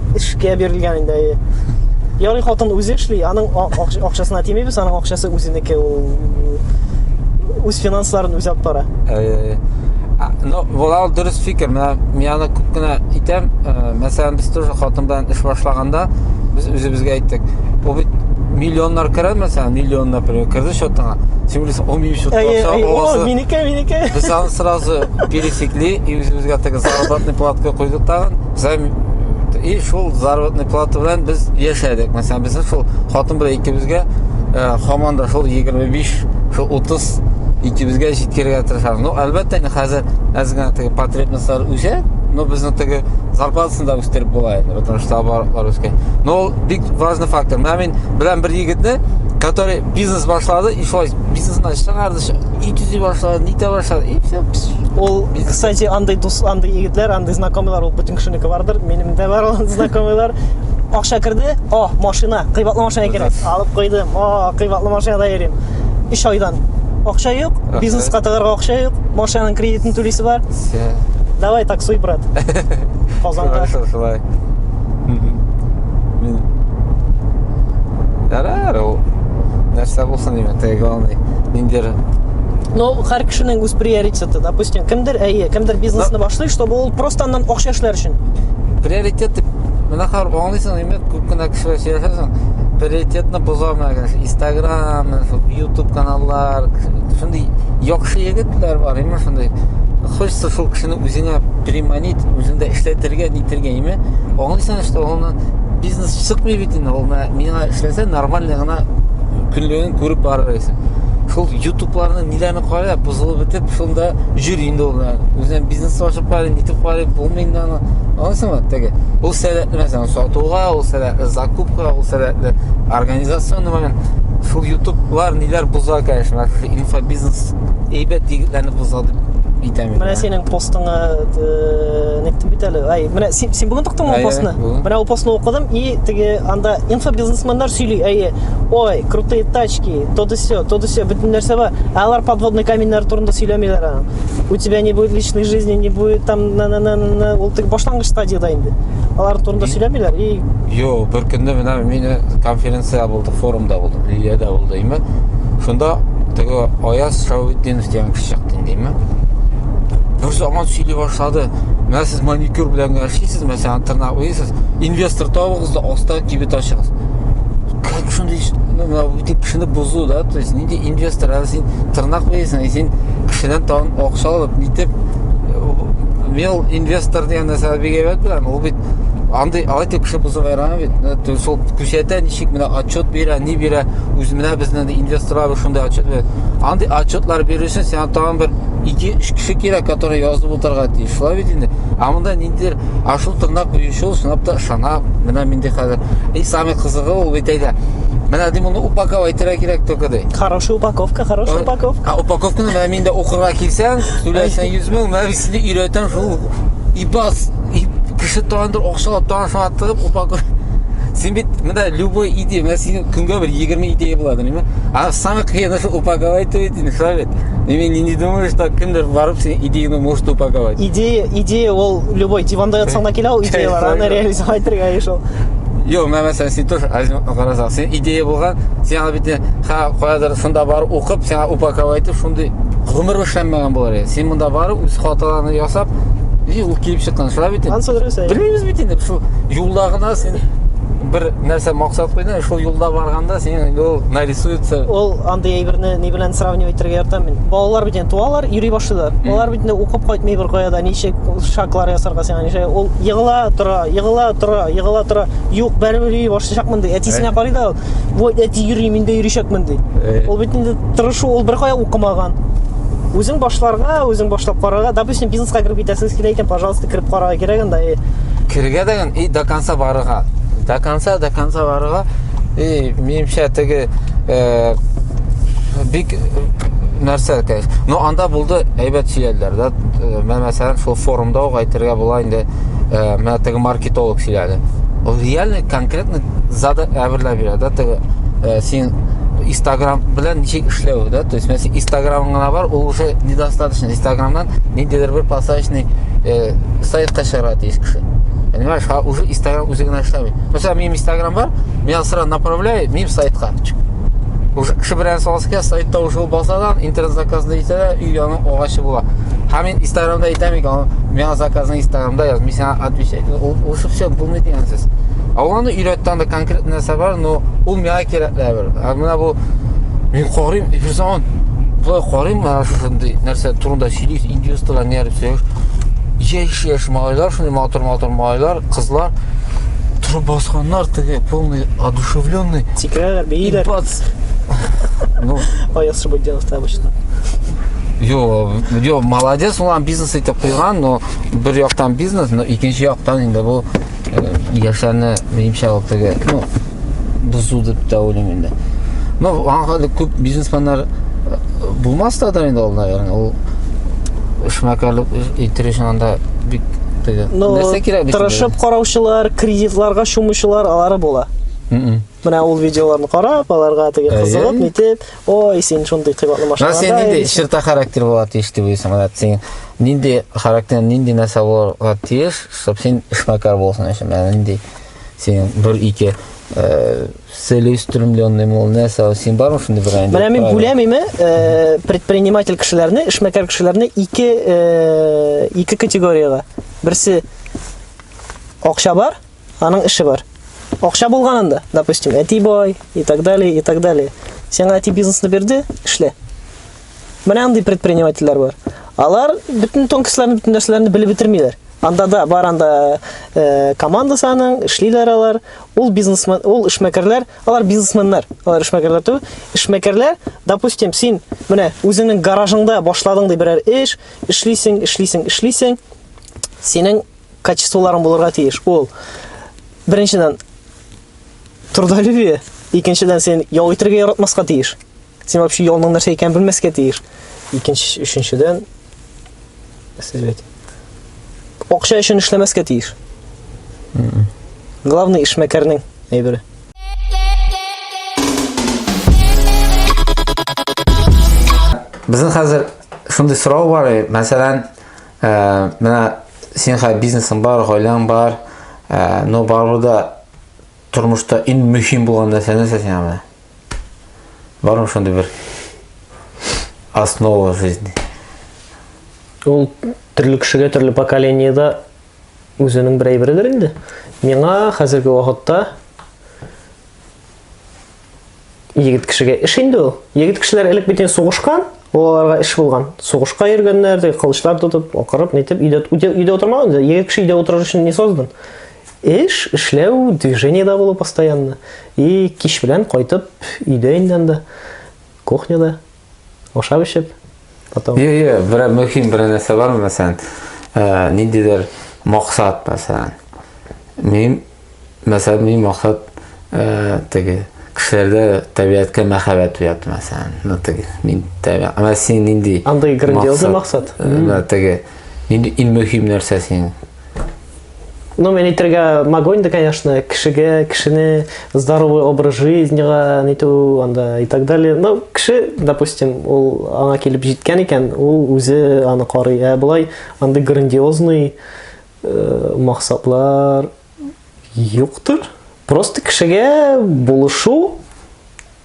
эшкә бирелгән инде әйе ярый хатын үзе эшли аның акчасына тимибез аның акчасы үзенеке ул үз финансларын үзе алып бара әйе ну болар дөрес фикер менә мин аны күп кенә итәм э, мәсәлән без тоже хатын белән эш башлаганда без үзебезгә әйттек бу бит миллионнар керә мәсәлән миллион например керде счетыңа син уйлыйсың он минут счетка акча минеке минеке без аны сразу пересекли и үзебезгә теге заработный платка куйдык тагын и шул заработный плата белән без яшәдек мәсәлән безнең шул хатын белән икебезгә ә, хаман да шул егерме биш шул утыз икебезгә җиткерергә тырышабыз ну әлбәттә инде хәзер әз генә теге потребностьлар үсә но безнең теге зарплатасын да үстереп була инде потому что оборотлар үскән но ул бик важный фактор менә мин белән бер егетне который бизнес башлады и шулай бизнесына чыгарды ит эзли башлады нитә башлады и все ул кстати андай дус андай егетләр андай знакомыйлар ул бөтен кешенеке бардыр минем дә бар ул знакомыйлар акча керде о машина кыйбатлы машина кирәк алып куйдым о кыйбатлы машинада йөрим өч айдан акча юк бизнеска тыгарга акча юк машинаның кредитын түлисе бар давай таксуй брат казанга шулай Мин... Ярар, ул... Нәрсә булсын, димә, теге главный, ниндер но һәр кешенең үз приоритеты допустим кемдер әйе кемдер бизнесны башлый чтобы ул просто аннан акча эшләр өчен приоритет дип менә хәр аңлыйсың инде күп кенә кешеләр сөйләшәсең приоритетны боза менә инстаграм ютуб каналлар шундый яхшы егетләр бар именно шундый Хочется шул кешене үзеңә приманить, үзеңдә эшләтергә, нитергә, име? Аңлыйсың, что ул бизнес чыкмый бит инде, ул миңа эшләсә, нормально гына көнлеген күреп барыр идең. Шул ютубларны ниләрне карап, бузылып бетеп, шунда җөри инде ул. Үзен бизнес ашып карый, нитеп карый, булмый инде аны. Аңлыйсыңмы? Теге. Ул сәләтле мәсәлән сатуга, ул сәләтле закупка, ул сәләтле организационный момент. Шул ютублар ниләр буза, конечно, инфобизнес әйбәт егетләрне кузгал дип әйтәм менә синең постыңа э, нектем бит әле ай менә син, син бүгін токтың ул постны менә ул постны укыдым и теге анда инфобизнесменнар сөйли әйе ой крутые тачки то да все то да все бөтен нәрсә бар ә алар подводный каменьнар турында сөйләмиләр аны у тебя не будет личной жизни не будет там на на на на ул тек башлангыч стадияда инде алар турында сөйләмиләр и юк бер көнне менә мин конференция булды форумда булды, Лилиядә булды име. Шунда теге Аяз Шавитдинов дигән кеше чыкты инде име. Бер заман сөйли башлады. Менә сез маникюр белән генә эшлисез, мәсәлән, тырнак уйсыз, инвестор табыгыз да аста кибет ачыгыз. Как шундый ну, менә бу кешене бозу да, то есть нинди инвестор, әле син тырнак уйсың, син кешедән тагын акча алып, нитеп, мел инвестор дигән нәрсә бигәбәт белән, ул бит андый алай дип кеше бозып ярамый бит э, шул күрсәтә ничек менә отчет бирә ни бирә үз менә безнең инвесторлар шундай отчет бирә андый отчетлар бирү өчен сиңа тагын бер ике өч кеше кирәк которые язып утырырга тиеш шулай бит инде а монда ниндидер ашу тырнак куючы сынап та ышана менә минде хәзер и самый кызыгы ул бит әйдә Менә ди моны упаковать итәргә кирәк только ди. Хорошая упаковка, хорошая э, упаковка. А упаковканы менә миндә укырга килсәң, түләсәң 100 мең, менә сине өйрәтәм шул ибас кеше таңдыр акчалап таңдыр саңа тыгып упаковка син бит мында любой идея менә синең көнгә бер егерме идея була белмә а самый кыен нәрсә упаковать итү не совет мен не думаю что кемдер барып синең идеяңды может упаковать идея идея ол любой диванда ятсаң да килә ул идеялар аны реализовать итәргә еш ул Йо, мен мәсәлән, син тоже азим карасаң, син идея булган, син аны бит ха каядыр шунда бар укып, сиңа упаковать итеп, шундый гомер эшләмәгән булар. Син монда барып үз хаталарыңны ясап, ул киеп чыккан шуңа бит анысы дөрес белмибез бит инде шул юлда гына син бер нәрсә максат куйдың шул юлда барганда синең инде ул нарисуется ул андый әйберне ни белән сравнивать итәргә яратам мин балалар бит инде туалар йөри башлыйлар алар бит инде укып кайтмый бер кая да ничек шаглар ясарга сиңа ничек ул егыла тора егыла тора егыла тора юк бәребер йөри башлаячакмын ди әтисенә карый да ул вот әти йөри мин дә йөричәкмен ди э. ул бит инде тырышу ул беркая укымаган үзең башларга үзең башлап карарга допустим бизнеска кереп китәсегез килә икән пожалуйста кереп карарга кирәк анда э. керергә дигән и до конца барырга до конца до конца барырга и минемчә теге э, бик нәрсә кәйф но анда булды әйбәт сөйләделәр да менә мәсәлән шул форумда ук әйтергә була инде менә теге маркетолог сөйләде ол реально конкретно Контактны зада әверләп бирә, да, теге э, син Instagram белән ничек эшләү, да, то есть мен син Instagramыңа бар, ул уже недостаточно. Instagramнан ниндидер бер посадочный э, сайтка чыгарга тиеш кеше. Понимаешь, а уже Instagram үзе генә эшләми. Мәсәлән, минем Instagram бар, меня сразу направляй минем сайтка. Уже кеше белән салышка сайтта уже басадан интернет заказны итә дә, өй яны агачы була. Һәм мин Instagramда итәм икән, меня заказны Instagramда яз. Мин сиңа отвечать ул, ул шушы булмый дигән сүз ал аны өйрәтте анда конкрет нәрсә бар но ул миңа кирәк лә бер ә менә бу мин карыйм бер заман былай карыйм менә шушындый нәрсә турында сөйлисез индюстылар не арып сөйләш яшь яшь малайлар шундый матур матур малайлар кызлар торып басканнар теге полный одушевленный сикерәләр бииләр ну аяз шыбыдянов обычно Йо, йо, молодец, улан бизнес итеп куйган, но бер яктан бизнес, но икенче яктан инде бу яшәрне минемчә ул теге, ну, бозу дип тә уйлыйм инде. Ну, аңа күп бизнесменнар булмас та да инде ул, наверное, ул эшмәкәрлек итер өчен анда бик теге. Ну, нәрсә кирәк бит? Тырышып караучылар, кредитларга чумучылар, алары була. Менә ул видеоларны карап, аларга теге кызыгып, нитеп, ой, син шундый кыйбатлы машина. Син нинди черта характер була тиеш дип уйлыйсың, менә син нинди характер, нинди нәрсә булырга тиеш, чтобы син эшмәкәр булсын өчен, менә нинди син бер ике э, целеустремленный мол нәрсә син бармы шундый бер инде менә мин бүләмиме э, предприниматель кешеләрне эшмәкәр кешеләрне ике э, ике категориягә берсе акча бар Аның эше бар. Акча булганында, допустим, әти бай и так далее, и так далее. Сиңа әти бизнесны бирде, эшлә. Менә андый предпринимательләр бар. Алар бөтен тонкостьләрне, бөтен нәрсәләрне белеп бетермиләр. Анда да бар анда э, команда саның, эшлиләр алар. Ул бизнесмен, ул эшмәкәрләр, алар бизнесменнар. Алар эшмәкәрләр түгел. Эшмәкәрләр, допустим, син менә үзеңнең гаражыңда башладың ди берәр эш, эшлисең, эшлисең, эшлисең. Синең качестволарың булырга тиеш. Ул беренчедән трудолюбие, икенчедән син ял итергә яратмаска тиеш. Син вообще ялның нәрсә икәнен белмәскә тиеш. Икенче, өченчедән сезгә әйтим. Акча өчен эшләмәскә тиеш. Главный эшмәкәрнең әйбере. Безнең хәзер шундый сорау бар, мәсәлән, Ә, менә син хәзер бизнесың бар, гаиләң бар, ә, но барыбер дә тормышта иң мөһим булган нәрсә нәрсә сиңа менә? Бармы шундый бер основа жизни? Ул төрле кешегә төрле поколениеда үзенең бер әйбередер инде. Миңа хәзерге вакытта егет кешегә эш инде ул. Егет кешеләр элек бит сугышкан, олаларга эш булган. Сугышка йөргәннәр, теге кылычлар тотып, акырып, нитеп, өйдә, өйдә, өйдә утырмаган инде. Егет кеше өйдә утырыр өчен не создан. Эш, эшләү, движениедә булу постоянно. И кич белән кайтып, өйдә инде анда, кухняда. Ашап эчеп, потом. Йо, йо, бер мөһим бер нәрсә бар, мәсәлән, э, ниндидер максат, мәсәлән. Мин, мәсәлән, мин максат э, теге кешеләрдә табигатькә мәхәббәт уяту, мәсәлән. Ну, теге, мин табигат. Ана син нинди? Андый грандиозный максат. Э, теге, нинди иң мөһим нәрсә синең? Ну, мен әйтергә могу инде, конечно, кешегә, кешене здоровый образ жизнега, ниту, анда и так далее. Ну, кеше, допустим, ул аңа килеп җиткән икән, ул үзе аны карый. Ә болай андый грандиозный э, максатлар юктыр. Просто кешегә булышу,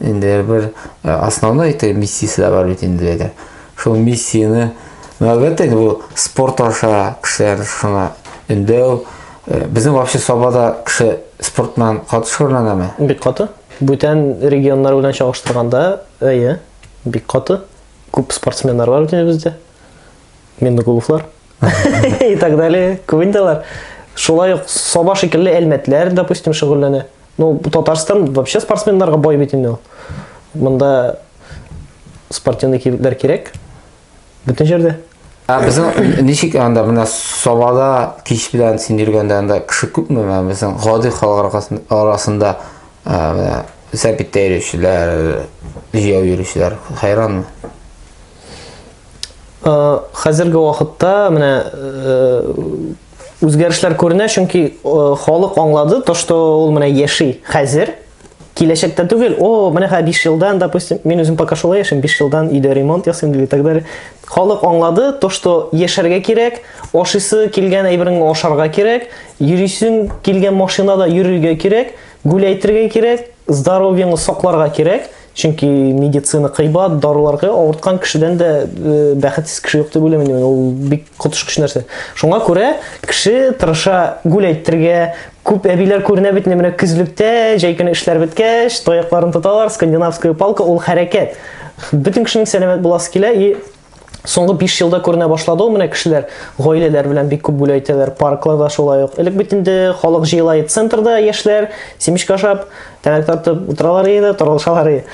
Инде бер э, основной итеп миссиясе дә бар бит инде әйдә. Шул миссияне әлбәттә инде бу спорт аша кешеләр шуңа өндәү. Э, безнең вообще Сабада кеше спорт белән каты шөгыльләнәме? Бик каты. Бүтән регионнар белән чагыштырганда, әйе, бик каты. Күп спортсменнар бар бит бездә. Миннегуловлар. и так далее күбен дәләр шулай ук саба шикелле әлмәтләр допустим шөгыльләнә ну татарстан вообще спортсменнарга бай бит инде ул монда спортивный кибетләр кирәк бөтен җирдә Ә безнең ничек анда менә Сабада кич белән син йөргәндә анда кеше күпме менә безнең гади халык арасында ә, сәбиттә йөрүчеләр, җәяү йөрүчеләр хайранмы? Э, хәзерге вакытта менә э, үзгәрешләр күренә, чөнки э, халык аңлады, то что ул менә яши хәзер, киләчәктә түгел, о, менә хә 5 елдан, допустим, мин үзем пока шулай яшим, 5 елдан өйдә ремонт ясыйм дип и так далее. Халык аңлады, то что яшәргә кирәк, ашысы килгән әйберен ашарга кирәк, йөрисең килгән машинада йөрергә кирәк, гүләйтергә кирәк, здоровьеңны сакларга кирәк. чөнки медицина кыйбат даруларга авырткан кешедән дә э, бәхетсез кеше юк дип уйлыйм ул бик коточкыч нәрсә шуңа күрә кеше тырыша гүл әйтергә күп әбиләр күренә бит менә көзлектә җәй көне эшләр беткәч тоякларын тоталар скандинавская палка ул хәрәкәт бөтен кешенең сәламәт буласы килә и Соңгы 5 елда күренә башлады ул менә кешеләр гаиләләр белән бик күп гүләй итәләр, паркларда шулай ук. Элек бит инде халык җыела иде центрда яшьләр, семечка ашап, тәмәк тартып утыралар иде, торылышалар иде.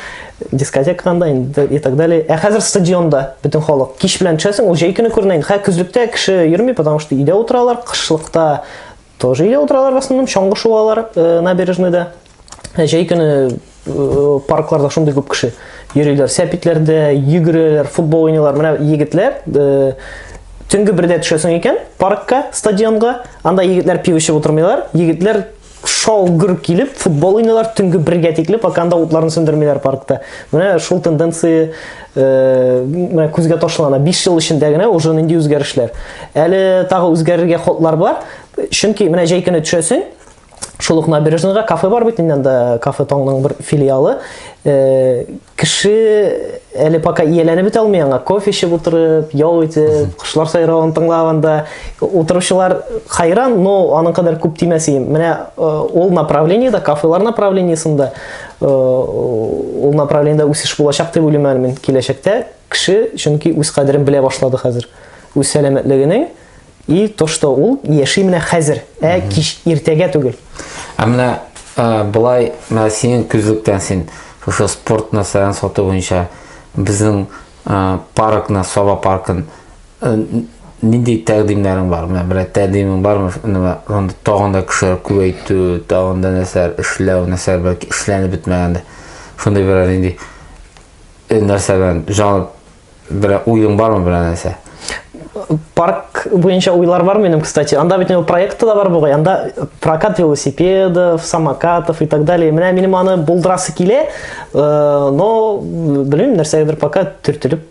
Дискотекада инде и так далее. Ә хәзер стадионда бөтен халык. Кич белән төшәсең, ул җәй көне күренә инде. Хә көзлектә кеше йөрми, потому что өйдә утыралар, кышлыкта Тоже өйдә утыралар басындым, чаңгы шуалар э, набережныйда. Ә җәй көне э, паркларда шундый күп кеше йөриләр. Сәпитләрдә йөгерәләр, футбол уйныйлар. Менә егетләр э, төнге бердә төшәсең икән паркка, стадионга, анда егетләр пиво эчеп утырмыйлар. Егетләр шау гөр килеп футбол уйныйлар төнге бергә тикле пока анда утларын сүндермиләр паркта менә шул тенденция менә күзгә ташлана 5 ел эчендә генә уже нинди үзгәрешләр әле тагы үзгәрергә ходлар бар чөнки менә җәй көне төшәсең шул ук набережныйга кафе бар бит инде анда кафе таңның бер филиалы э, кеше әле пока ияләнеп бетә алмый аңа кофе эчеп утырып ял итеп кошлар сайравын тыңлап анда утыручылар хайран но аның кадәр күп тимәс ием менә э, ул направлениеда кафелар направлениесында Э, ул направлениедә үсеш булачак дип уйлыйм әле мин киләчәктә кеше чөнки үз кадерен белә башлады хәзер үз сәламәтлегенең и то что ул яши менә хәзер ә кич иртәгә түгел ә менә э, былай менә синең күзлектән син шушы спорт нәрсәләрен сату буенча безнең э, паркны саба паркын Э, нинди тәкъдимнәрең бар? Менә бер тәкъдимең бармы? Анда тагын да кешеләр күбәйтү, тагын да нәрсәләр эшләү, нәрсәләр бәлки эшләнеп бетмәгәндә. Шундый бер нинди э, нәрсә белән җан бер уең бармы бер нәрсә? парк буенча уйлар бар минем, кстати. Анда бит инде проекты да бар бугай. Анда прокат велосипедов, самокатов и так далее. Менә минем аны булдырасы килә, э, но белмим, нәрсәгәдер пока төртелеп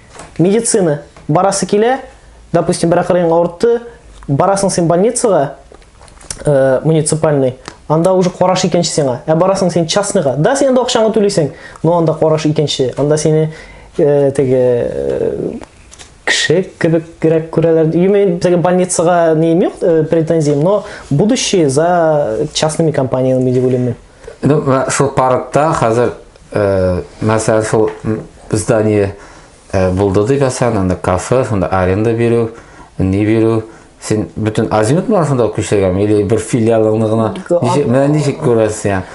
медицина барасы килә, допустим, бер акырын авыртты, барасың син больницага, э, муниципальный, анда уже караш икенче сиңа. Ә барасың син частныйга. Да, син анда акчаңны түлисең, но анда караш икенче. Анда сине э, теге э, кеше кебек грәк күрәләр. Юме безгә больницага не имею э, претензий, но будущее за частными компаниями дип уйлыйм. Ну, шул паркта хәзер мәсәлән, шул здание булды дип әсән, анда кафе, шунда аренда бирү, ни бирү, син бөтен азимут менә шунда күчергән, или бер филиалыңны гына, ничек, менә ничек күрәсең,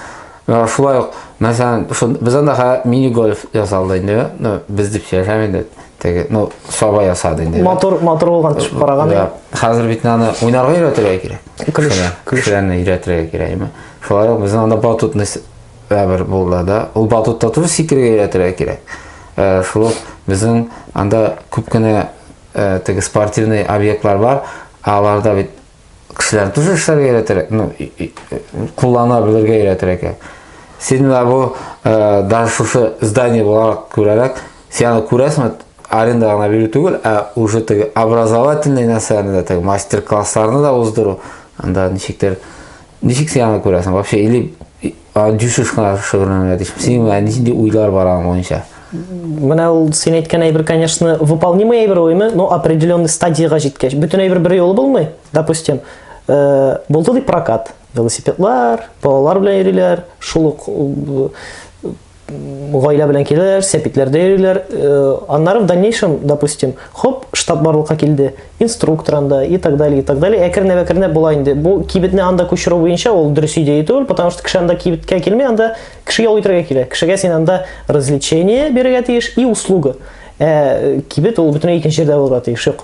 Э, шулай ук мәсәлән без анда мини гольф ясалды инде ну без дип сөйләшәм инде теге ну саба ясады инде мотор мотор булган төшеп караган да хәзер бит аны уйнарга өйрәтергә кирәк клеш клешне өйрәтергә кирәк шулай ук безнең анда батутный Ә бер булда да ул батутта туры сикерергә өйрәтергә кирәк. Э, шул ук безнең анда күп кенә э, теге спортивный объектлар бар, аларда бит кешеләрне тоже эшләргә өйрәтергә, ну, куллана белергә өйрәтергә кирәк. Син менә бу э, даже шушы здание буларак күрәрәк, син аны күрәсеңме, аренда гына бирү түгел, ә уже теге образовательный нәрсәләрне дә, теге мастер-классларны да уздыру, анда ничектер Ничек син аны күрәсең? Вообще, или дюсыз гына шөгыльләнергә тиеш. Синең ә нинди уйлар бар аның буенча? Менә ул син әйткән әйбер, конечно, выполнимый әйбер уйны, но определенный стадияга җиткәч, бөтен әйбер бер юлы булмый. Допустим, э, булды дип прокат, велосипедлар, балалар белән йөриләр, шул ук э, гаилә белән киләләр, сәпитләрдә йөриләр. Э, аннары в дальнейшем, допустим, хоп, штаб барлыкка килде, инструктор анда и так далее, и так далее. Әкренләп-әкренләп була инде. Бу кибетне анда күчерү буенча ул дөрес идея түгел, потому что кеше анда кибеткә килми, анда кеше ял итәргә килә. Кешегә син анда развлечение бирергә тиеш и услуга. Ә кибет ул бөтенләй икенче җирдә булырга тиеш. Юк.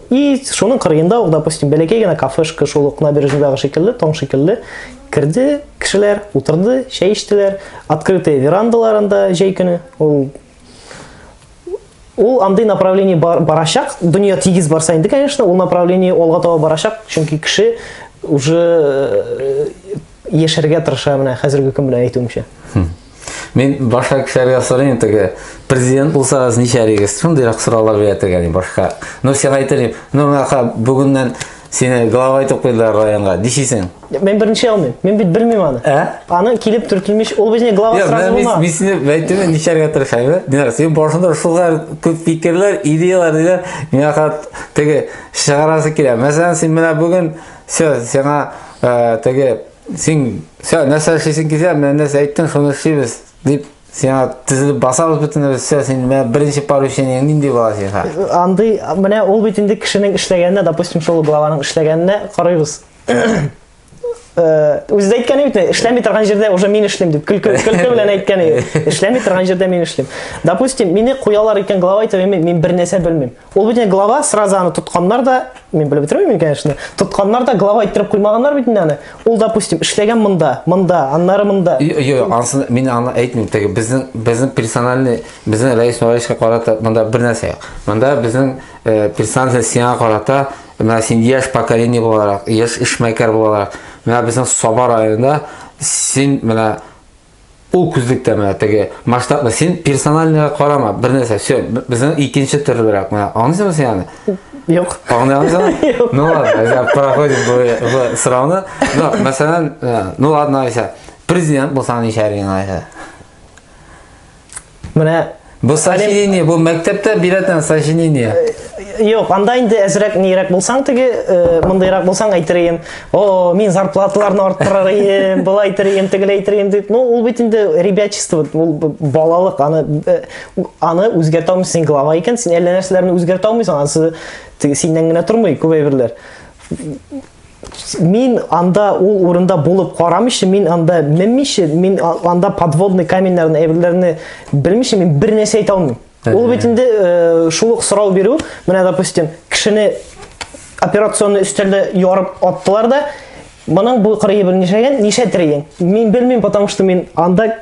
И шуның кырыенда ук, допустим, бәләкәй генә кафешка, шул ук набережныйдагы шикелле, таң шикелле, керде кешеләр, утырды, чәй эчтеләр, открытые верандаларында җәй көне, ул ул андый направление бар, барачак, дөнья тигез барса инде, конечно, ул направление алга таба барачак, чөнки кеше уже э, яшәргә тырыша менә хәзерге көн белән әйтүемчә. Мин башка кешеләргә сорыйм теге, президент булсагыз ничәрегез? Шундыйрак сораулар бирә тегә ди башка. Ну сиңа әйтер ну миңа бүгеннән сине глава итеп куйдылар районга, дишисең. Мен беренче алмыйм. Мен бит белмим аны. Ә? Аны килеп төртелмеш, ул безне глава Нет, сразу булма. Мин сине әйтүне ничәргә тырышам. Динар, син башында шулар күп фикерләр, идеяләр диләр. Миңа хат теге чыгарасы килә. Мәсәлән, син менә бүген все, сиңа э, теге Син, все, нәрсә эшлисең килсә, менә нәрсә әйттең, шуны эшлибез, дип, сиңа тезелеп басабыз бөтенебез, все, син менә беренче поручениең нинди була сиңа? Андый, менә ул бит инде кешенең эшләгәненә, допустим, шул главаның эшләгәненә карыйбыз. Үзе дә әйткәне бит, эшләми торган җирдә уже мин эшлим дип, көлке, көлке белән әйткәне. Эшләми торган җирдә мин эшлим. Допустим, мине куялар икән глава итеп, мин бернәрсә белмим. Ул бит глава сразу аны тотканнар да, мин белеп бетермим, конечно. Тотканнар да глава иттереп куймаганнар бит аны. Ул, допустим, эшләгән монда, монда, аннары монда. Йо, ансын мин аны әйтмим. Теге безнең безнең персональный, безнең Рәис Нурайшка карата монда бер нәрсә юк. Монда безнең э, персональный сиңа карата, менә син яшь поколение буларак, яшь эшмәкәр буларак, менә безнең Саба районында син менә Ул күзлектә менә теге масштабны син персональныйга карама, бер нәрсә, все, безнең икенче төрлерәк менә. Аңлыйсыңмы син аны? Юк. Аңлыйсыңмы? Ну ладно, я проходим бу сорауны. Ну, мәсәлән, э, ну ладно, Айса, президент булсаң ничә ринг Айса? Менә Бу сочинение, бу мәктәптә бирәтен сочинение. Юк, анда инде әзрәк нирәк булсаң теге, э, мондыйрак булсаң әйтер идем. О, мин зарплаталарны арттырыр идем, былай әйтер идем, тегеләй әйтер идем дип. Ну, ул бит инде ребячество, ул балалык, аны э, аны үзгәртә алмыйсың, глава икән, син әллә нәрсәләрне үзгәртә алмыйсың, анысы синнән генә тормый күп әйберләр. мин анда ул урында булып карамыйча, мин анда менмичә, мин анда подводный каменьләрне, әйберләрне белмичә мин бер нәрсә әйтә алмыйм. Ул бит инде э, шул ук сорау бирү, менә допустим, кешене операционный өстәлдә ярып аттылар да, моның бу кырые белмичәген ничә тереген? Мин белмим, потому что мин анда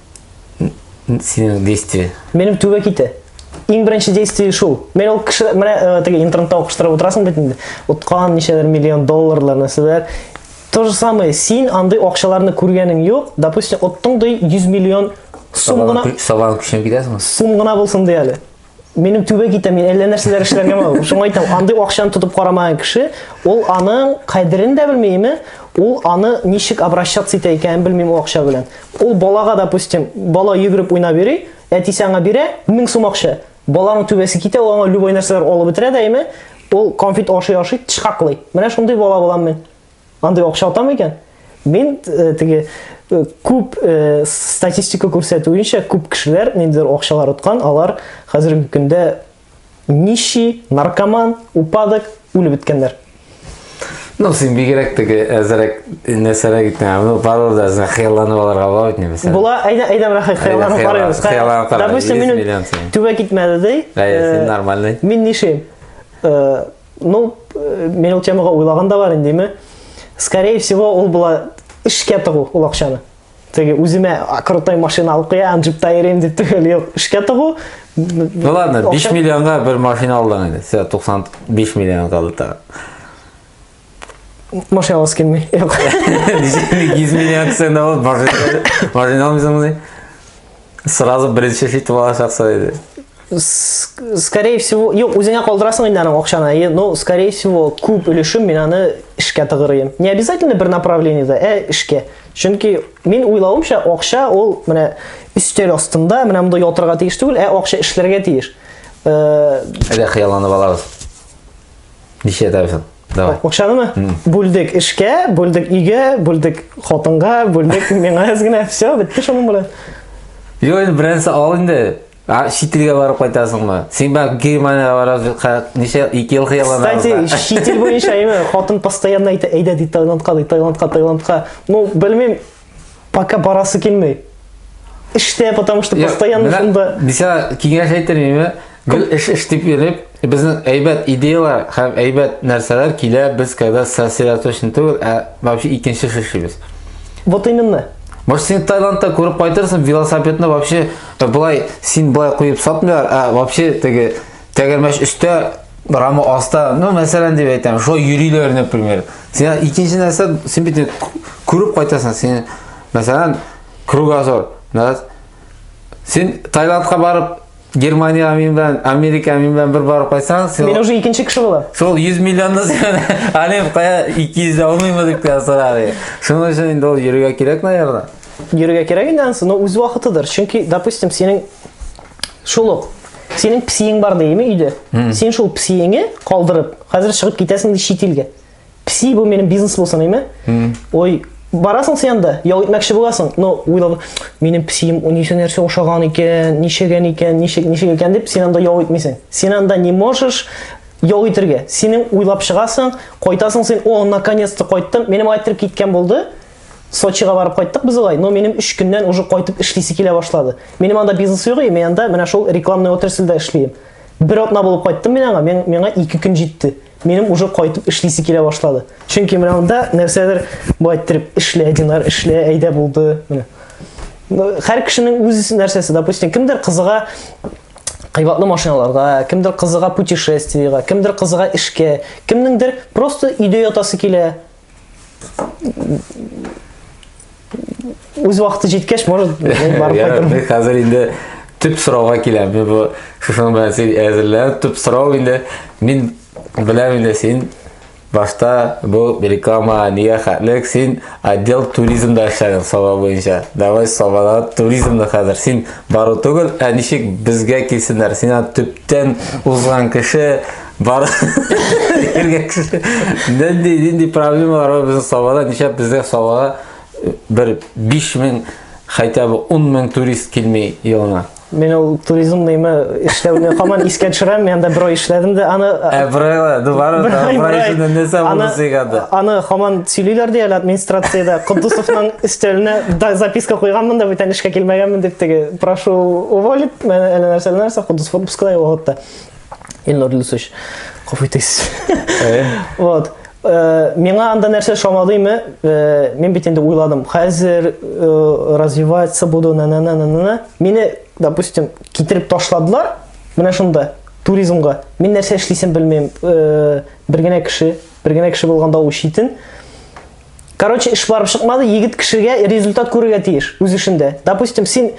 синең действие? Минем түбә ките. Иң беренче действие шул. Мен ул кеше менә э, теге интернетта укыштырып утырасың бит инде. Уткан ничәләр миллион долларлар нәрсәләр. То же самое, син андый акчаларны күргәнең юк. Допустим, оттың ди 100 миллион сум гына. Сабан күченеп китәсеңме? Сум гына булсын ди әле. Минем түбә китә, мин әллә нәрсәләр эшләргә мәл. Шуңа әйтәм, андый акчаны тотып карамаган кеше, ул аның кадерен дә белмиме, ул аны ничек обращаться итә икәнен белмим ул акча белән. Ул балага, допустим, бала йөгереп уйнап йөри, әтисе аңа бирә 1000 сум акча. Баланың түбәсе китә, ул аңа любой нәрсәләр алып бетерә дә, әйме? Ул конфет ашый-ашый тышкаклый. Менә шундый бала булам мин. Андый акча атам икән. Мин э, теге э, күп э, статистика күрсәтүенчә, күп кешеләр ниндидер акчалар откан, алар хәзерге көндә нищий, наркоман, упадок, үлеп беткәннәр. Ну, син бигерәк теге әзерәк нәрсәләр гитмә. Ну, пару да зә хыялланып алырга була бит нәрсә. Була, әйдә, әйдә менә хыялланып карыйбыз. Хыялланып карыйбыз. Допустим, минем түбә китмәде ди. Әйе, син нормальный. Мин нишим? Ну, э, мен ул темага уйлаган да бар инде, Скорее всего, ул була эшкә тыгу ул акчаны. Теге үземә крутой машина алып куям, джипта йөрим дип түгел, юк, эшкә тыгу. Ну ладно, 5 миллионга бер машина алдың инде. Сә 95 миллион калды та. Машина аласы килмей. Юк. 100 миллион кесәңдә булып машина машина алмыйсың Сразу беренче хит булачаксы иде. Скорее всего, юк, үзеңә калдырасың инде аның акчаны. И, ну, скорее всего, күп өлешем мин аны эшкә тыгырыйм. Не обязательно бер направлениедә, ә эшкә. Чөнки мин уйлавымча, акча ул менә өстәл астында, менә монда ятырга тиеш түгел, ә акча эшләргә тиеш. Э, Әйдә хыялланып алабыз. Ничә ятарсың? Давай. Акчанымы? Бүлдек эшкә, бүлдек өйгә, бүлдек хатынга, бүлдек миңа генә. Все, бетте шуның белән. Юк, инде беренче ал инде. А чит илгә барып кайтасыңмы? Син бак Германиягә барасың, ничә ике ел хыялланасың. Кстати, чит ил буенча әйме, хатын постоянно әйтә, әйдә ди Таиландка, ди Таиландка, Таиландка. Ну, белмим, Пока барасы килмей. Эштә, потому что постоянно шунда. Бисә киңәш әйтер инде. Гел эш эш дип йөреп, безнең әйбәт идеялар һәм әйбәт нәрсәләр килә, без когда сосредоточен түгел, ә вообще икенче шешибез. Вот именно. Может, сен Таиландта күреп кайтырсың, велосипедны вообще былай, син былай куеп сатмыйлар, а вообще теге Тәгәрмәч өстә, рама аста, ну, мәсәлән дип әйтәм, шулай йөриләр, например. Син икенче нәрсә, син бит күреп кайтасың, син, мәсәлән, кругозор, да? Син Таиландка барып, Германия амин белән, Америка амин белән бер барып кайтсаң, син Мин уже икенче кеше булам. Шул 100 миллионны сен Алим кая 200 дә алмыймы дип тә сорар. Шуның өчен инде ул йөрергә кирәк, наверное. Йөрергә кирәк инде ансы, но үз вакытыдыр. Чөнки, допустим, синең Шул ук. Синең псиең бар дейме өйдә? Син шул псиеңе калдырып, хәзер чыгып китәсең ди чит илгә. Пси бу минем бизнес булсын дейме? Ой, барасың син анда, ял итмәкче буласың, но уйлап, минем псием ничә нәрсә ошаган икән, ничәгән икән, ничек ничек икән дип син анда ял итмисең. Син анда не можешь ял итергә. Синең уйлап чыгасың, кайтасың син, о, наконец-то кайттым. Минем айтыр киткән булды. Сочига барып кайттык без алай, но минем 3 көннән уже кайтып эшлисе килә башлады. Минем анда бизнес юк, мен анда менә шул рекламный отрасльдә эшлим. Бер атна булып кайттым мин аңа, мен, миңа 2 көн җитте. Минем уже кайтып эшлисе килә башлады. Чөнки менә анда нәрсәдер бай иттереп эшлә, динар эшлә, әйдә булды. Менә. Хәр кешенең үз нәрсәсе, допустим, кемдер кызыга кыйбатлы машиналарга, кемдер кызыга путешествиега, кемдер кызыга эшкә, кемнеңдер просто өйдә ятасы килә, үз вакыты җиткәч может барып хәзер инде төп сорауга киләм мин бу шушының белән син әзерләнеп төп сорау инде мин беләм инде син башта бу реклама нигә хәтлек син отдел туризмда эшләгән саба буенча давай сабада туризмны хәзер син бару түгел ә ничек безгә килсеннәр син төптән узган кеше Бар. Нинди нинди проблемалар бар безнең Сабада? Нишләп безгә Сабага э, бер 5000 хотя бы 10000 турист килми елына? Мен ул туризм нейме эшләүне хаман искә төшерәм, мен анда бер ай эшләдем дә аны Әбрайла, ду бар да, Әбрайла не сабылы сыйгады. Аны хаман сөйлиләр ди әле администрациядә, Кудусовның өстәленә да записка куйганмын да бүтән эшкә килмәгәнмен дип теге, прошу уволить, мен әле нәрсә нәрсә Кудусов отпускыда югалтты. Ильнур Люсович, кафу итегез. Вот. Э, миңа анда нәрсә шамадыймы? Э, мин бит инде уйладым. Хәзер э, развиваться буду на на на на на. Мине, допустим, китереп ташладылар. Менә шунда туризмга. Мин нәрсә эшлисем белмим. Бер генә кеше, бер генә кеше булганда ул читен. Короче, эш барып чыкмады, егет кешегә результат күрергә тиеш үз эшендә. Допустим, син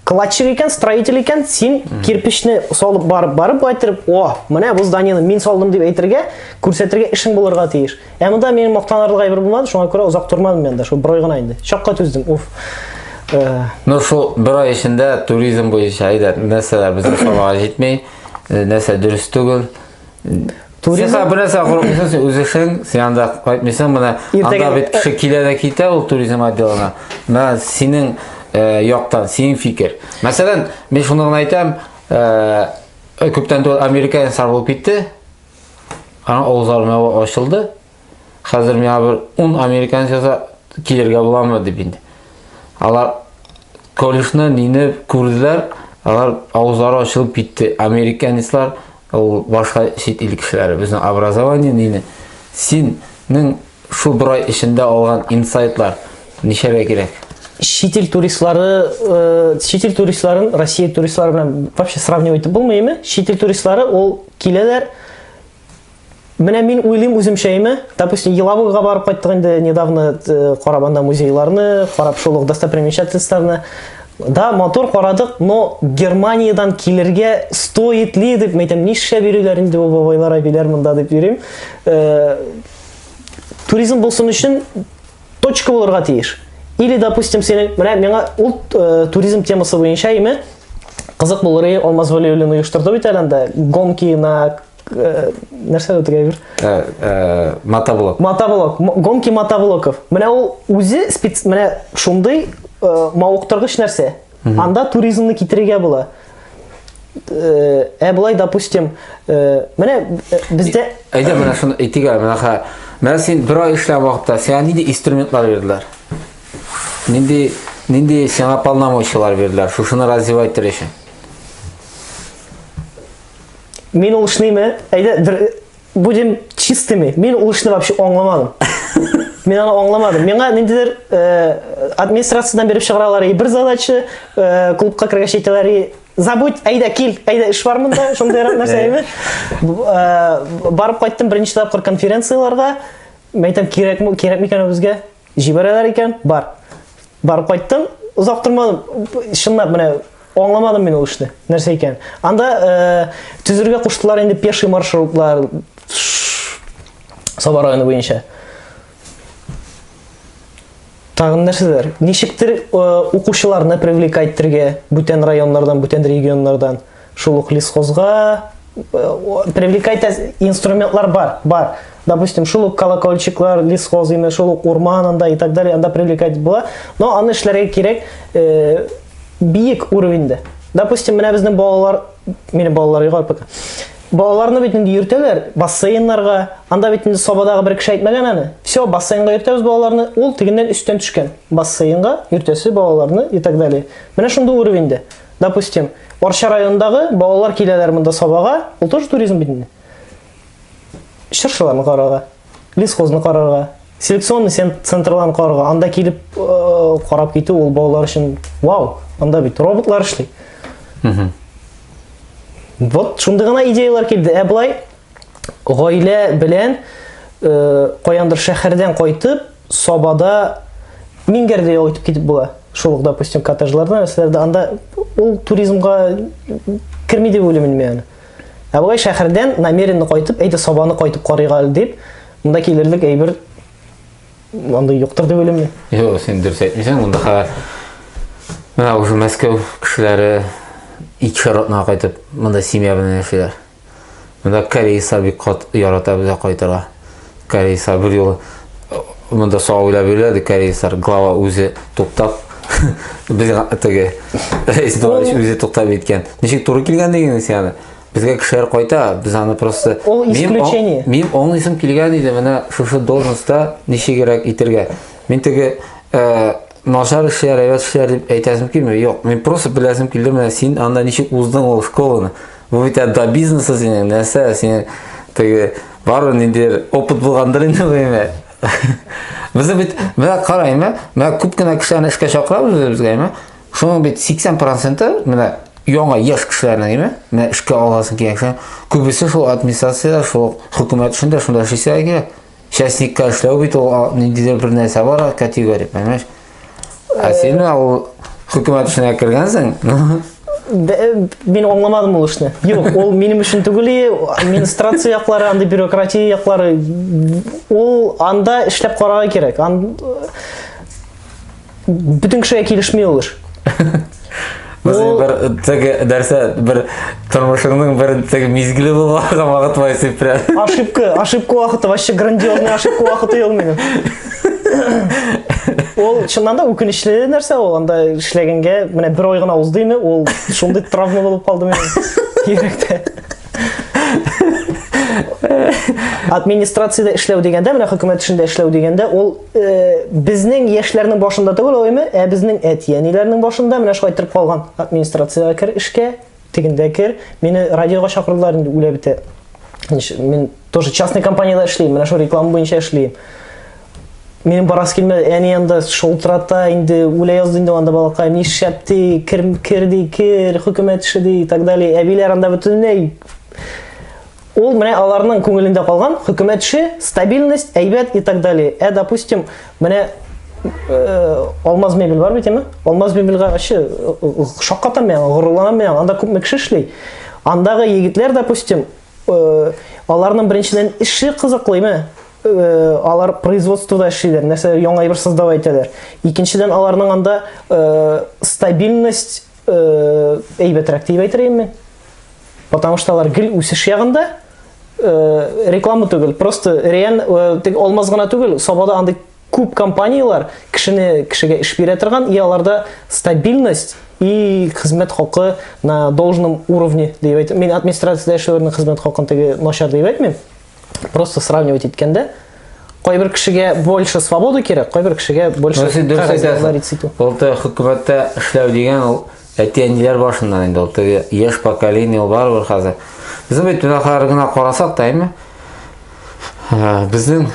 кладчик икән, строитель икән, син кирпичне салып барып барып кайтырып, о, менә бу зданиены мин салдым дип әйтергә, күрсәтергә эшең булырга тиеш. Ә монда мин мактанарлык әйбер булмады, шуңа күрә озак тормадым мында, шул бер ай гына инде. Чакка түздем. Уф. Э, ну шул бер ай эчендә туризм буенча әйдә, нәрсәләр безгә салага җитми, э, нәрсә дөрес түгел. Туризм... Сиңа бернәрсә курыкмыйсың, син үзешең, син анда кайтмыйсың, менә анда бит кеше килә дә китә ул туризм отделына. Менә синең э, яктан, синең фикер. Мәсәлән, мин шуны гына әйтәм, э, күптән түгел Америка инсар булып китте. Аның авызлары ачылды. Хәзер миңа бер ун американец яза килергә буламы дип инде. Алар колледжны нине күрделәр, алар авызлары ачылып китте. Американецлар ул башка чит ил кешеләре, безнең образование нине. Синең шул бер ай эчендә алган инсайтлар ничәгә кирәк? Чит ил туристлары, э, чит ил туристларын Россия туристлары белән вообще сравнивать итеп булмыймы? Чит ил туристлары ул киләләр, Менә мин уйлыйм үземчә име, допустим, Елабуга барып кайттык инде недавно э, карап анда музейларны, карап шул ук достопримечательностьларны. Да, мотор карадык, но Германиядән килергә стоит ли дип мәйтәм, нишләп йөриләр инде бу бабайлар, әбиләр монда дип йөрим. Э, туризм булсын өчен точка булырга тиеш. Или, допустим, синең, менә миңа ул э, туризм темасы буенча име кызык булыр иде Алмаз Вәлиуллин оештырды бит әле анда гонки на э, нәрсә дә тегәр? Э, э, мотоблок. Мотоблок. Гонки мотоблоков. Менә ул үзе спец, менә шундый э, мавыктыргыч нәрсә. Анда туризмны китерергә була. Э, ә былай допустим э, менә э, бездә әйдә менә шуны әйтик әле менә хә менә син бер ай эшләгән вакытта сиңа нинди инструментлар бирделәр нинди нинди сиңа полномочиялар бирделәр шушыны развивать итер өчен мин ул эшнеме әйдә Будем чистыми. Мин ул эшне вообще аңламадым. Мин аны аңламадым. Миңа ниндидер э, администрациядән биреп чыгаралар и бер задача, э, клубка кергәч әйтәләр и забудь, әйдә кил, әйдә эш бар монда, шундыйрак нәрсә әйме. Э, барып кайттым беренче тапкыр конференцияләргә. Мәйтәм кирәкме, кирәкме икән ул безгә? Җибәрәләр икән, бар. Барып кайттым, озак тормадым. Чынлап менә аңламадым мин ул эшне. Нәрсә икән? Анда э, төзергә куштылар инде пеший маршрутлар Саба районы буенча. Тагын нәрсәләр? Ничектер э, укучыларны привлекать итәргә бүтән районнардан, бүтән регионнардан. Шул ук лесхозга привлекать инструментлар бар, бар. Допустим, шул ук колокольчиклар, лесхоз име, шул ук урман анда и так далее, анда привлекать була. Но аны эшләргә кирәк э, биек уровеньдә. Допустим, менә безнең балалар, мені балалар йога пока. Балаларны бит инде йөртәләр бассейннарга. Анда бит инде сабадагы бер кеше әйтмәгән аны. Все, бассейнга йөртәбез балаларны. Ул тегеннән өстән төшкән. Бассейнга йөртәсе балаларны и так далее. Менә шундый уровеньдә. Допустим, Арча районындагы балалар киләләр монда сабага, ул тоже туризм бит инде. Чыршыларны карарга, лесхозны карарга, селекционный центрларны карарга, анда килеп э, карап китү ул балалар өчен вау, анда бит роботлар эшли. Вот шундый гына идеялар килде. Ә былай гаилә белән э, каяндыр шәһәрдән кайтып Сабада Мингәр дә ял итеп китеп була. Шул ук, допустим, коттеджларда, нәрсәләрдә, анда ул туризмга керми дип уйлыйм мин аны. Ә болай шәһәрдән намеренно кайтып, әйдә Сабаны кайтып карыйк әле дип, монда килерлек әйбер андый юктыр дип уйлыйм мин. Юк, син дөрес әйтмисең, монда менә уже Мәскәү кешеләре икешәр атнага кайтып, монда семья белән яшиләр. Монда Кәрей Сабик кат ярата безгә кайтыра. Кәрей Сар бер юлы э, монда сау уйлап йөрәде Кәрей Сар глава үзе туктап безгә теге Рәис Дуалич үзе туктап иткән. Ничек туры килгән дигән сине? Безгә кешеләр кайта, без аны просто Ул исключение. Мин оңлысым килгән иде менә шушы должностьта ничегрәк итергә. Мин теге э, начар эшләр, әйбәт эшләр дип әйтәсем килми. Юк, мин просто беләсем килде менә син анда ничек уздың ул школаны. Бу бит әдда бизнесы синең, нәрсә синең теге бары ниндидер опыт булгандыр инде бу Безне бит, менә карайм, менә күп кенә кешеләрне эшкә чакырабыз үзебезгә, әйме? Шуның бит 80%-ы менә яңа яшь кешеләрне, әйме? Менә эшкә аласың килгән кешеләр. Күбесе шул администрация, шул хөкүмәт эшендә шунда эшлисә кирәк. Частникка эшләү бит ул ниндидер бер нәрсә бар, категория, понимаешь? Ә син менә ул хөкүмәт эшенә кергәнсең. Мин аңламадым ул эшне. Юк, ул минем өчен түгел, администрация яклары, анда бюрократия яклары. Ул анда эшләп карарга кирәк. Бөтен кешегә килешми ул эш. Без бер теге нәрсә бер тормышыңның бер теге мизгеле булган вакыт бар сип прям. Ошибка, ошибка вакыты, вообще грандиозный ошибка вакыты ел минем. Ул чыннан да үкенечле нәрсә ул, анда эшләгәнгә менә бер ай гына узды инде, ул шундый травма булып калды минем. Йөрәктә. Администрациядә эшләү дигәндә, менә хөкүмәт эшендә эшләү дигәндә, ул э, безнең яшьләрнең башында түгел оймы, ә безнең әти-әниләрнең башында менә шулай торып калган. Администрациягә кер эшкә, тегендә кер. Мине радиога чакырдылар инде үлә бетә. Мин тоже частный компанияда эшлим, менә шул реклама буенча эшлим. Минем барас килмә, әни янда шолтырата, инде үлә язды инде анда балакай, ни шәп ди, кер, кер ди, кер, хөкүмәт эше ди, и так далее. Әбиләр анда бөтенләй Ул менә аларның күңелендә калган хөкүмәтче стабильность, әйбәт и так далее. Ә допустим, менә э, Алмаз мебель бар бит, әме? Алмаз мебельгә ачы шаккатам мен, горурланам мен, анда күпме кеше эшли. Андагы егетләр, допустим, э, аларның беренчедән эше кызыклымы? Э, алар производствода эшлиләр, нәрсә яңа әйбер создавай итәләр. Икенчедән аларның анда э, стабильность э, әйбәтрәк дип әйтер идем мин. Потому что алар гел үсеш ягында э, реклама түгел, просто реаль э, тек алмаз гына түгел, сабада андый күп компанияләр кешене кешегә эш бирә торган, и аларда стабильность и хезмәт хакы на должном уровне дип әйтәм. Мин администрациядә эшләүнең хезмәт хакын теге начар дип әйтмим. просто сравнивать иткәндә кайбер кешегә больше свобода кирәк кайбер кешегә больше дөрес итү ул хөкүмәттә эшләү дигән ул әти әниләр башыннан инде ул теге яшь поколение ул барыбер хәзер безнең бит генә карасак та әйме безнең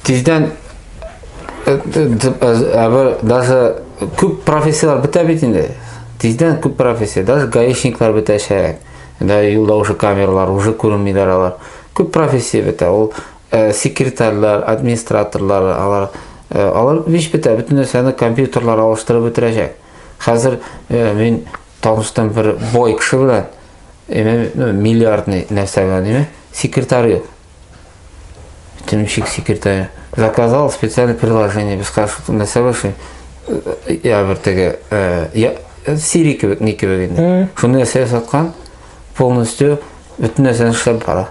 Тиздән әбер даже күп профессияләр бетә бит инде. Тиздән күп профессия, даже гаишниклар бетәчәк. Да юлда уже камералар, уже күренмиләр алар. Күп профессия бетә. Ул э, секретарьлар, администраторлар, алар э, алар биш бетә, бөтен нәрсәне компьютерлар алыштырып бетерәчәк. Хәзер э, мин таныштым бер бой кеше белән, миллиардный нәрсә белән, секретарь Тимчик секретарь. Заказал специальное приложение, без кашуты на саваши. Я бер теге, я Сири кебек, не кебек инде. Шуны нәрсә саткан, полностью бөтен нәрсәне эшләп бара.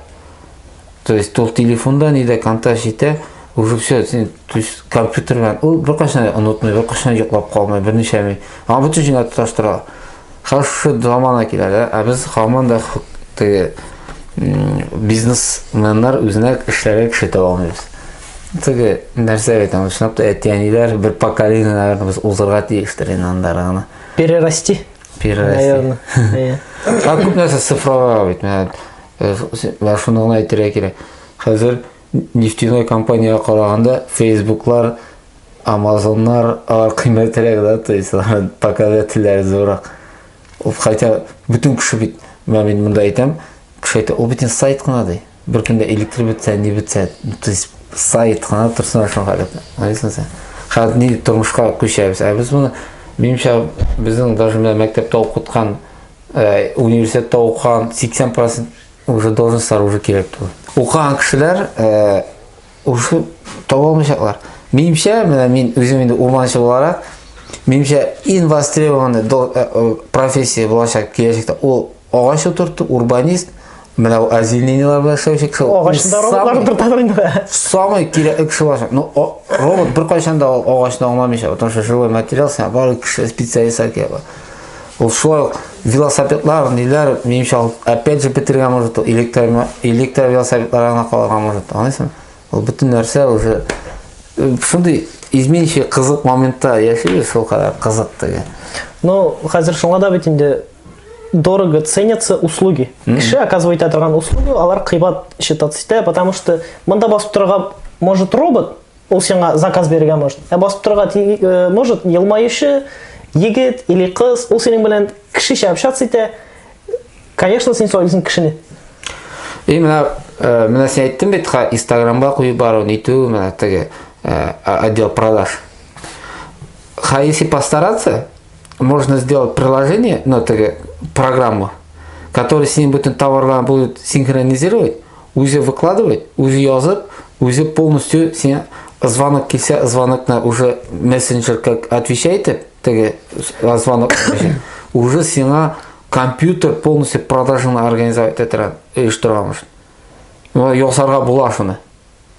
То есть ул телефонда, нидә контакт итә, уже все, син, то есть компьютер белән, ул беркайчан онытмый, беркайчан йоклап калмый, берничә мин. Аңа бөтен җиңә тоташтыра. Хәвефле замана килә дә, ә без хаман да теге бизнесменнар үзенә эшләргә кеше таба алмыйбыз. Теге нәрсә әйтәм, чынлап та әти-әниләр бер поколение, наверное, без узырга тиештер инде анда гына. Перерасти. Перерасти. Иә. Ә күп нәрсә цифралар бит. Менә шуны гына әйтергә кирәк. Хәзер Нефтяной компанияга караганда Фейсбуклар, Амазоннар алар кыйммәтрәк да, то есть алар показательләре зуррак. Ул хәтта бөтен кеше бит, мен мин монда әйтәм, кеше әйтә, ул бит сайт кына ди. Бер көндә электр бетсә, ни бетсә, то есть сайт кына торсын шул халәт. Аңлыйсың син? Хәзер ни тормышка күчәбез. Ә без моны минемчә безнең даже мәктәптә укыткан, э, университетта укыган 80% Уже должностьлар уже кирәк түгел. Укыган кешеләр э, уже таба алмаячаклар. Минемчә, менә мин үзем инде урманчы буларак, минемчә иң востребованный э, э, профессия булачак киләчәктә ул агач утырту, урбанист, менә ул озеленениелар белән эшләүче кеше. Агачында роботлар утырталар инде. Самый кирәкле кеше булачак. Ну, робот беркайчан да агачны аңламыйча, потому что живой материал, сәбәр кеше специалистка кирәк. Ул шулай ук велосипедлар, ниләр, минемчә, опять же, бетергән может, электр, электр велосипедлар гына калырга может, аңлыйсың? Ул бөтен нәрсә уже шундый изменчий кызык моментта яшибез, шул кадәр кызык теге. Ну, хәзер шуңа да бит инде дорого ценятся услуги. Кеше оказывает торган услугу, алар кыйбат считаться итә, потому что монда басып торырга может робот, Ул сиңа заказ бирергә может. Ә басып торырга э, может елмаючы егет или кыз, ул синең белән кешечә общаться итә. Конечно, син сойлыйсың кешене. И менә э, менә син әйттең бит, Инстаграмга куеп бару, нитү, менә теге э, отдел продаж. Ха, если постараться, можно сделать приложение, ну, теге программу, который с ним будет товарлар будет синхронизировать, Үзе выкладывать, үзе язып, үзе полностью сиңа звонок килсә, звонокны уже мессенджер как отвечай итеп, теге звонок уже сиңа компьютер полностью продажаны организовать иттерә, оештыра мыш. Ясарга була шуны.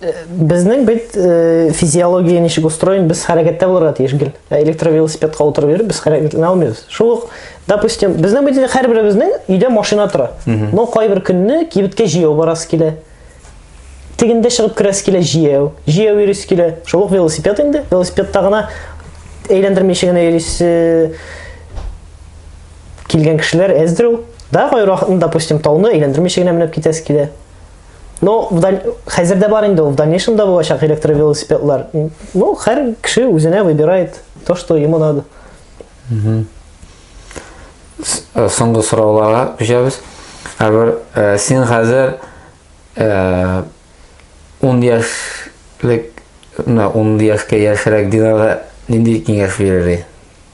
Безнең бит э, физиология ничек устроен, без хәрәкәттә булырга тиеш гел. Ә электровелосипедка утырып йөреп без хәрәкәтләнә алмыйбыз. Шул ук, допустим, безнең бит һәрберебезнең өйдә машина тора. Но кайбер көнне кибеткә җияү барасы килә. Тегендә чыгып керәсе килә җияү. Җияү йөрис килә. Шул ук велосипед инде. Велосипедта гына әйләндермичә генә йөрисе килгән кешеләр әздер ул. Да, кайракны, допустим, тауны әйләндермичә генә менеп китәсе килә. Ну, хәзер дә бар инде, в дальнейшем да булачак электровелосипедлар. Ну, хәр кеше үзенә выбирает то, что ему надо. Э, соңгы сорауларга күчәбез. Әгәр э, син хәзер 10 э, яшьлек, 10 яшькә яшьрәк динарга нинди киңәш бирер идең?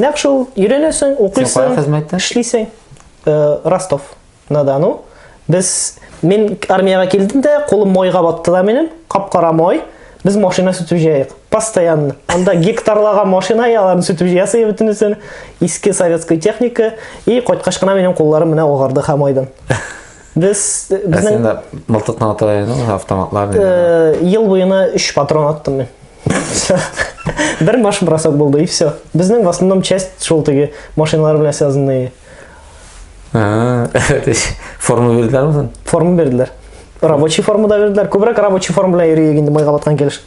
Нәкъ шул, өйрәнәсең, укыйсың, хезмәттә? эшлисең. Э, Ростов на Дону. Без мин армиягә килдем дә, кулым майга батты да минем, кап-кара май. Без машина сүтеп җыядык. Постоянно. Анда гектарлаган машина яларын сүтеп җыясы бөтенесен. Иске советская техника и кайткач кына минем кулларым менә агарды хамайдан. Без Ә сен безнең дә мылтыкны ата идең, автоматлар нидә? э, ел буена 3 патрон аттым мин. Всё. Бер маш бросок булды и все. Безнең в основном часть шул теге машиналар белән связанные. А, Форма бирделәрме син? Форма бирделәр. Рабочий форма да бирделәр. Күбрәк рабочий форма белән йөриек инде майга баткан килеш.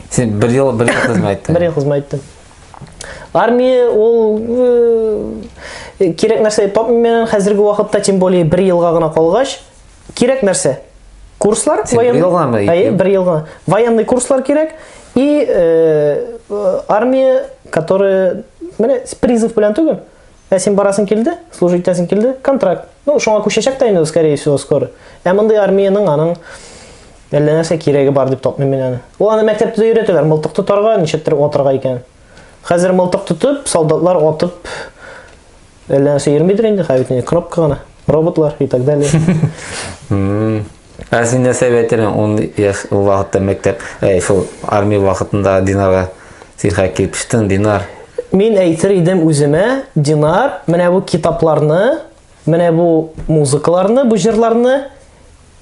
Син бер ел бер ел хезмәт иттең. Бер ел хезмәт иттем. армия ул э, кирәк нәрсә тапмыйм мен хәзерге вакытта тем более бер елга гына калгач кирәк нәрсә курслар военный елгамы әйе бер елга военный курслар кирәк и э, армия которая менә призыв белән түгел Ә син барасың килде, служить итәсең килде, контракт. Ну, шуңа күчәчәк тә инде, скорее всего, скоро. Ә мондый армиянең аның әллә нәрсә кирәге бар дип тапмыйм мин аны. Ул аны мәктәптә дә өйрәтәләр, мылтык тотарга, ничектер атырга икән. Хәзер мылтык тотып, солдатлар атып әллә нәрсә йөрмидер инде, хәбит инде кнопка гына, роботлар и так далее. Ә син нәрсә әйтәлән ун яшь ул вакытта мәктәп, әй, шул армия вакытында Динара сирхә килпштен, Динар. Мин әйтер идем үземә, Динар, менә бу китапларны, менә бу музыкаларны, бу җырларны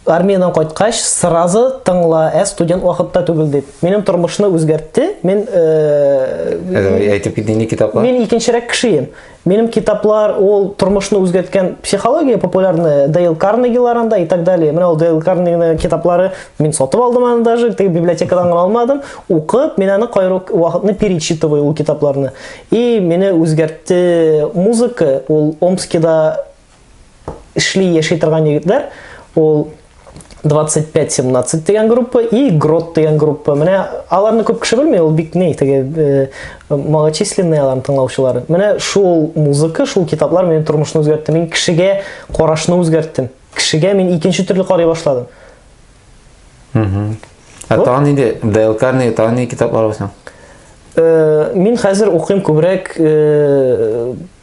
армиядән кайткач сразу тыңла, ә студент вакытта түгел дип. Минем тормышны үзгәртте. Мин э, әйтеп китте ни китаплар? Мин икенчерәк кешеем. Минем китаплар ул тормышны үзгәрткән психология популярная Дейл Карнегилар анда и так далее. Менә ул Дейл Карнегиның китаплары мин сатып алдым аны даже, теге библиотекадан гына алмадым. Укып, мин аны кайры вакытны перечитываю ул китапларны. И мине үзгәртте музыка, ул Омскида эшли, яши торган егетләр, ул 25-17 дигән группа и Грот дигән группа. Менә аларны күп кеше белми, ул бик ни, теге э, малочисленный аларны тыңлаучылары. Менә шул музыка, шул китаплар минем тормышны үзгәртте. Мин кешегә карашны үзгәрттем. Кешегә мин икенче төрле карый башладым. Угу. Ә вот. тагын инде Дейл Карни, тагын ни китаплар бар соң? Э, мин хәзер укыйм күбрәк э,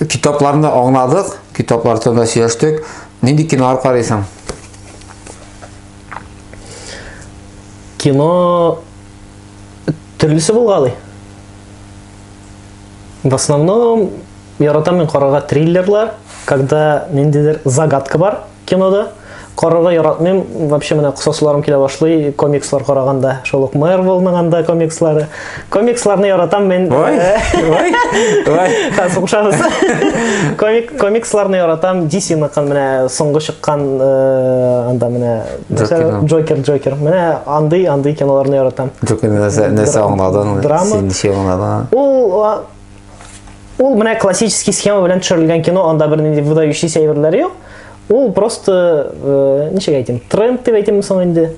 Китапларны аңладык, китаплар турында сөйләштек. Нинди кинолар карыйсың? Кино төрлесе булгалый. В основном Яратам мин карарга триллерлар, когда ниндидер загадка бар кинода. Карарга яратмыйм, вообще менә косасыларым килә башлый комикслар караганда, шул ук Marvel-ның анда комикслары. Комиксларны яратам мин. Ой, ой, ой. Хәзер Комик, комиксларны яратам, DC-ныкын менә соңгы чыккан э, анда менә Джокер, Джокер. Менә андый, андый киноларны яратам. Джокер нәрсә, нәрсә аңладың? Драма. Син ничек аңладың? Ул Ул менә классический схема белән төшерелгән кино, анда бер нинди выдающийся әйберләр юк. Ул просто, э, ничек әйтим, тренд дип әйтимме соң инде?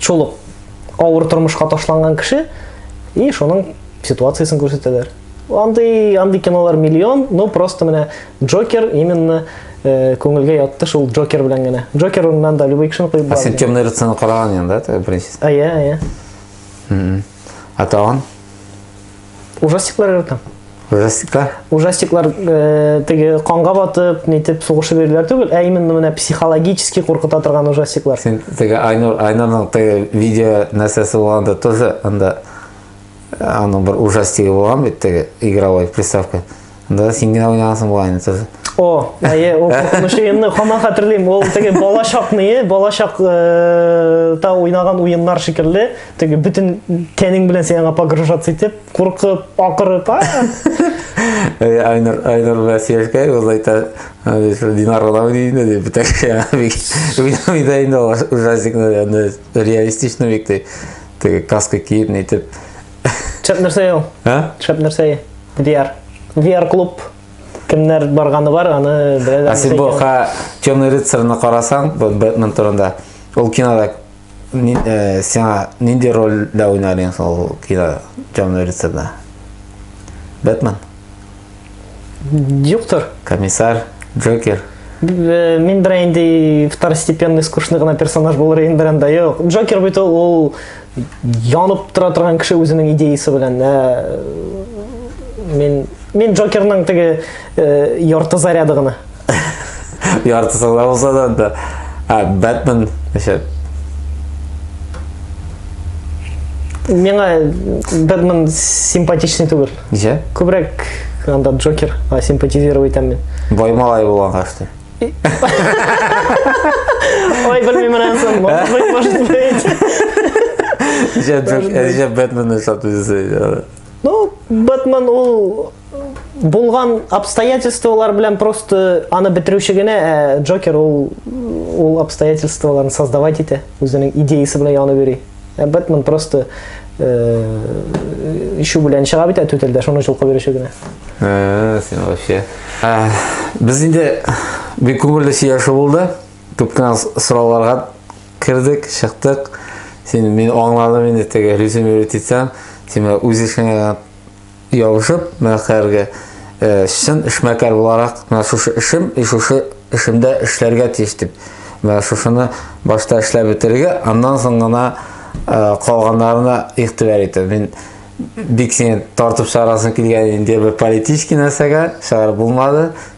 Шул ук авыр тормышка ташланган кеше и шуның ситуациясен күрсәтәләр. Андый, андый кинолар миллион, но просто менә Джокер именно э, күңелгә ятты шул Джокер белән генә. Джокер урыннан да любой кешене куеп А сен темный рыцарьны караган янда, да, беренчесен? А, я, я. А та он? Ужастиклар яратам. Ужастиклар? Ужастиклар э, теге канга батып, нитеп сугышып йөриләр түгел, ә именно менә психологически куркыта торган ужастиклар. Син теге Айнур, Айнурның теге видео нәрсәсе булганда тоже анда э, аның бер ужастигы булган бит теге игровой приставка. Анда син генә уйнагансың бугай инде тоже. О, әйе, ул куркыныч уенны хаман хәтерлим. Ул теге бала чакны, бала чак э, та уйнаган уеннар шикелле, теге бөтен тәнең белән син аңа погружаться итеп, куркып, акырып, а? Э, Айнур, Айнур белән сөйләшкәй, ул әйтә, «Э, шул Динар гына уйный инде, ди, бөтен кеше аңа бик уйнамый да инде ул ужастикны, аны реалистичный бик, ди. Теге каска киеп, нитеп, Шәп нәрсә ул? Ә? Шәп нәрсә? VR. VR клуб кемнәр барганы бар, аны беләләр. Ә син бу ха Темный рыцарьны карасаң, Бэтмен турында. Ул кинода э, сиңа нинди рольдә уйнар идең ул кино Темный рыцарьда? Бэтмен. Юктыр. Комиссар, Джокер. Э, мин бер инде второстепенный скучный гына персонаж булыр идем бер анда. Юк, Джокер бит ул янып тора торган кеше үзенең идеясы белән. Э, мин мин Джокерның теге э, ярты заряды гына. Яртысын да булса да да. А, Бэтмен, значит. Миңа Бэтмен симпатичный түгел. Ничә? Күбрәк анда Джокер, а симпатизировать итәм мин. Бай малай булган кашты. Ой, белмим менә соң. Может быть, может быть. Ничә Джок- э, ничә Бэтмен эшләп үзесе. Ну, Бэтмен ул булган обстоятельстволар белән просто аны бетерүче генә ә Джокер ул ул обстоятельстволарны создавать итә, үзенең идеясы белән янып йөри. Ә Бэтмен просто э, ишү белән чыга бит ә түтәлдә, шуны җылкып йөрүче генә. Ә, син вообще. Ә, без инде бик күңелле сөйләшү булды. Күп кенә сорауларга кердек, чыктык. Син мин аңладым инде теге режим өйрәтсәң, син үз эшеңә Ябышып, менә хәзерге чын эшмәкәр буларак, менә шушы эшем, и шушы эшемдә эшләргә тиеш дип. Менә шушыны башта эшләп бетерергә, аннан соң гына калганнарына игътибар итә. Мин бик сине тартып чыгарасым килгән инде бер политический нәрсәгә, чыгарып булмады.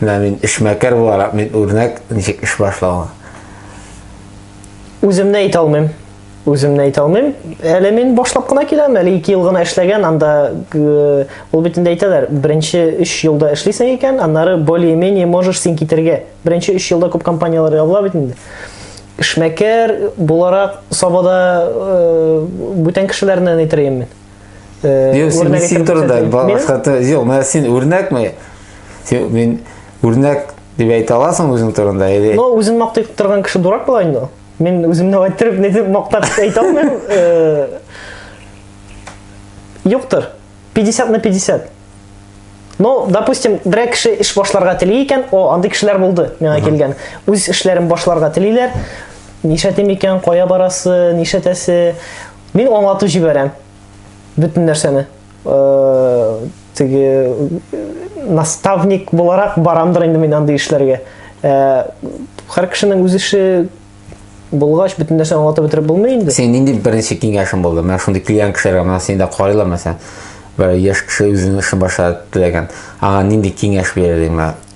Менә мин эшмәкәр буларак мин үрнәк ничек эш башлавы. Үземне әйтә алмыйм. Үземне әйтә алмыйм. Әле мин башлап кына киләм, әле 2 ел гына эшләгән, анда э, ул бит инде әйтәләр, беренче 3 елда эшлисең икән, аннары более-менее можешь син китергә. Беренче 3 елда күп компанияләр ябыла бит инде. Эшмәкәр буларак Сабада э, бүтән кешеләрне әйтер идем мин. Юк, син, син турында башка юк, менә син үрнәкме? Син мин үрнәк дип әйтә аласың үзең турында или? Ну, үзен мактый торган кеше дурак була инде. Мин үземне әйттереп, не дип мактап әйтә алмыйм. Юктыр. 50 на 50. Ну, допустим, берәр кеше эш башларга тели икән, о, андый кешеләр булды, миңа килгән. Үз эшләрен башларга телиләр. Нишләтим икән, кая барасы, нишләтәсе? Мин аңлатып җибәрәм бөтен нәрсәне. Э, теге наставник буларак барамдыр инде мин андый эшләргә. Э, һәр кешенең үз эше булгач бөтен нәрсәне аңлатып бетереп булмый инде. Син нинди беренче киңәшең булды? Менә шундый клиент кешеләргә менә сине дә карыйлар мәсәлән. Бер яшь кеше үзенең эшен башлап теләгән. Аңа нинди киңәш бирер идең?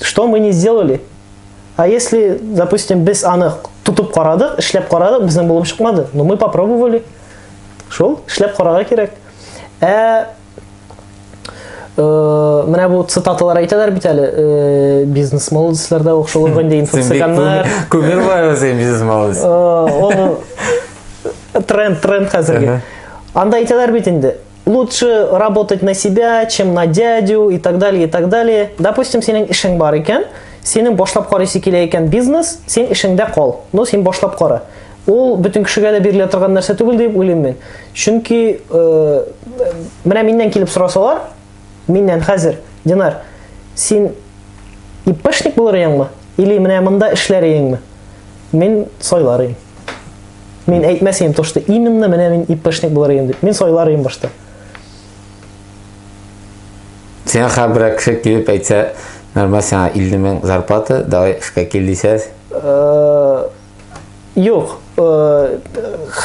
Что мы не сделали? А если, допустим, без аны тутып карадык, эшләп карадык, безнең булып чыкмады, но мы попробовали. Шул, эшләп карарга кирәк. Ә Э, менә бу цитаталар әйтәләр бит әле э, бизнес молодецларда ук шул инде инфо-цыганнар күңел бар син бизнес молодец э, тренд тренд хәзерге анда әйтәләр бит инде лучше работать на себя, чем на дядю и так далее, и так далее. Допустим, синең эшең бар икән, синең башлап карыйсы килә икән бизнес, син эшеңдә кал. Ну, син башлап кара. Ул бөтен кешегә дә бирелә торган нәрсә түгел дип уйлыйм мин. Чөнки э, менә миннән килеп сорасалар, миннән хәзер, Динар, син иппешник булыр яңмы? Или менә монда эшләр яңмы? Мин сойлар идем. Мин әйтмәс идем, то, что именно менә мин ИПшник булыр идем дип. Мин сойлар идем башта. Сиңа хәбәрәк кеше килеп әйтсә, нормаль сиңа 50 мең зарплата, давай эшкә кил дисәз. Э, юк, э,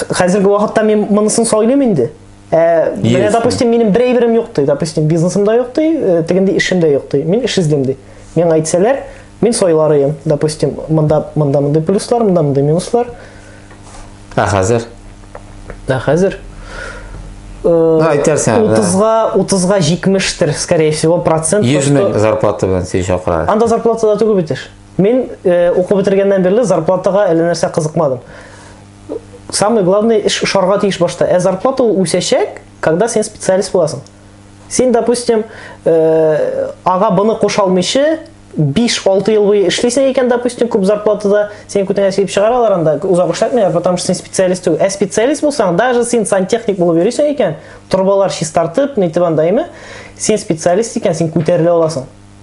хәзерге вакытта мин монысын сойлыйм инде. Ә, менә, допустим, минем бер әйберем юк ди, допустим, бизнесым да юк ди, э, тегенди эшем дә юк ди. Мин эш эзлим ди. Миңа әйтсәләр, мин сойларыйм, допустим, монда монда мондый плюслар, монда мондый минуслар. Ә хәзер? Ә хәзер? Э, Әйтәрсең. 30-га, 30-га 70-тер, скорее всего, процент. 100 мең зарплата белән син чакыра. Анда зарплата да түгел бит эш. Мин э, укып бетергәннән бирле зарплатага әллә нәрсә кызыкмадым. самый главный эш ошарга тиеш башта. Ә зарплата ул үсәчәк, когда син специалист буласың. Син, допустим, э, ага буны куша алмыйчы, 5-6 ел буе эшлисең икән, допустим, күп зарплатада, син күтәңә сөйеп чыгаралар анда, узак эшләтмиләр, потому что син специалист түгел. Ә специалист булсаң, даже син сантехник булып йөрисең икән, торбалар чистартып, нитеп анда име, син специалист икән, син күтәрелә аласың.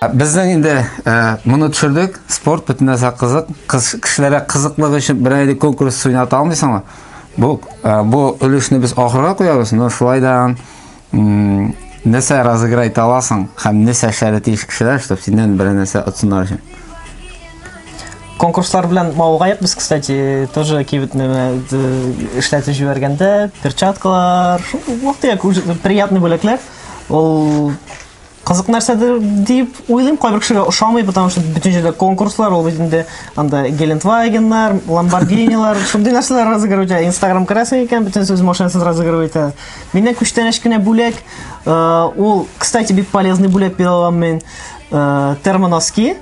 Безнең инде э, моны төшердек, спорт бөтен нәрсә кызык. Кыз кешеләргә кызыклык өчен бер әле конкурс уйната алмыйсыңмы? Бу э, бу өлешне без ахырга куябыз, но шулай да нәрсә разыграть аласың һәм нәрсә эшләргә тиеш кешеләр, чтобы синнән бер нәрсә отсыннар өчен. конкурслар белән мавыгаек без кстати тоже кибет неме эшләтеп җибәргәндә перчаткалар вакытык приятный бүләкләр ул кызык нәрсәдер дип уйлыйм кайбер кешегә ошамый потому что бөтен җирдә конкурслар ул бит инде анда гелендвагеннар ламборгинилар шундый нәрсәләр разыгрывать итә инстаграм керәсең икән бөтен сүз машинасыз разыгрывать итә миннән күчтәнәч кенә бүләк э, ул кстати бик полезный бүләк бирә алам мин э, термоноски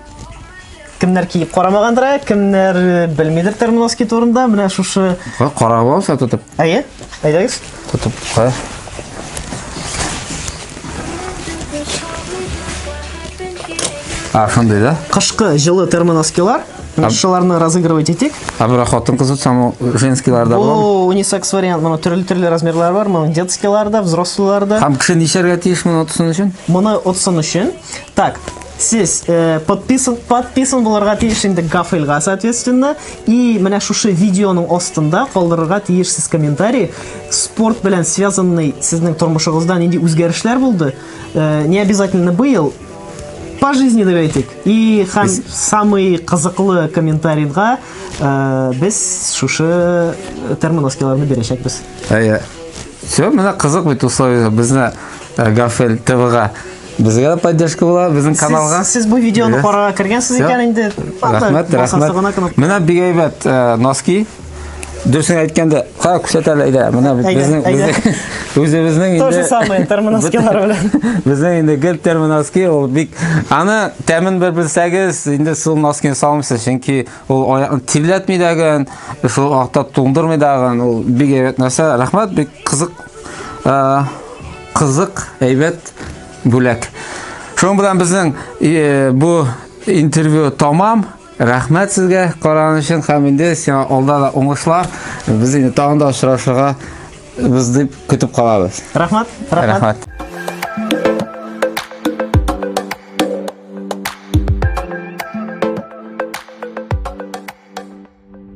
кемнәр киеп карамагандыр, ә, кемнәр э, белмидер термоноски турында. Менә шушы Кара- Карап алса тотып. Әйе, әйдәгез. Тотып. Кара. А, шундый да? Кышкы җылы термоноскилар. Менә Ам- шуларны разыгрывать итик. А бирок хатын кызы саму женскийларда бар. Бу унисекс вариант, моның төрле-төрле размерлары бар, моның детскийларда, взрослыйларда. Һәм кеше нишәргә тиеш моны отсын өчен? Моны отсын өчен. Так, Сез э, подписан, подписан булырга тиеш инде Гафельга, соответственно, и менә шушы видеоның астында калдырырга тиешсез комментарий. Спорт белән связанный сезнең тормышыгызда нинди үзгәрешләр булды? Э, не обязательно быел, по жизни дип әйтик. И һәм самый кызыклы комментарийга э, без шушы термоноскиларны бирәчәкбез. Әйе. Все, менә кызык бит условия безне э, Гафель ТВга. Безгә дә поддержка була, безнең каналга. Сез, сез бу видеоны карарга кергәнсез икән инде. Рәхмәт, рәхмәт. Менә бик әйбәт э, носки. Дөресен әйткәндә, ха күрсәт әле әйдә. Менә безнең үзебезнең инде Тоже самое термоноскилар белән. Безнең инде гел термоноски ул бик аны тәмен бер белсәгез, инде шул носкины салмыйсыз, чөнки ул аякны тирләтми дәген, шул акта туңдырмый дәген, ул бик әйбәт нәрсә. Рәхмәт, бик кызык. Э, Кызык, әйбәт бүләк. Шуның белән безнең э, бу интервью тамам. Рәхмәт сезгә караган өчен һәм инде сиңа алда да уңышлар. Без инде тагын да очрашырга без дип көтеп калабыз. Рәхмәт. Рәхмәт.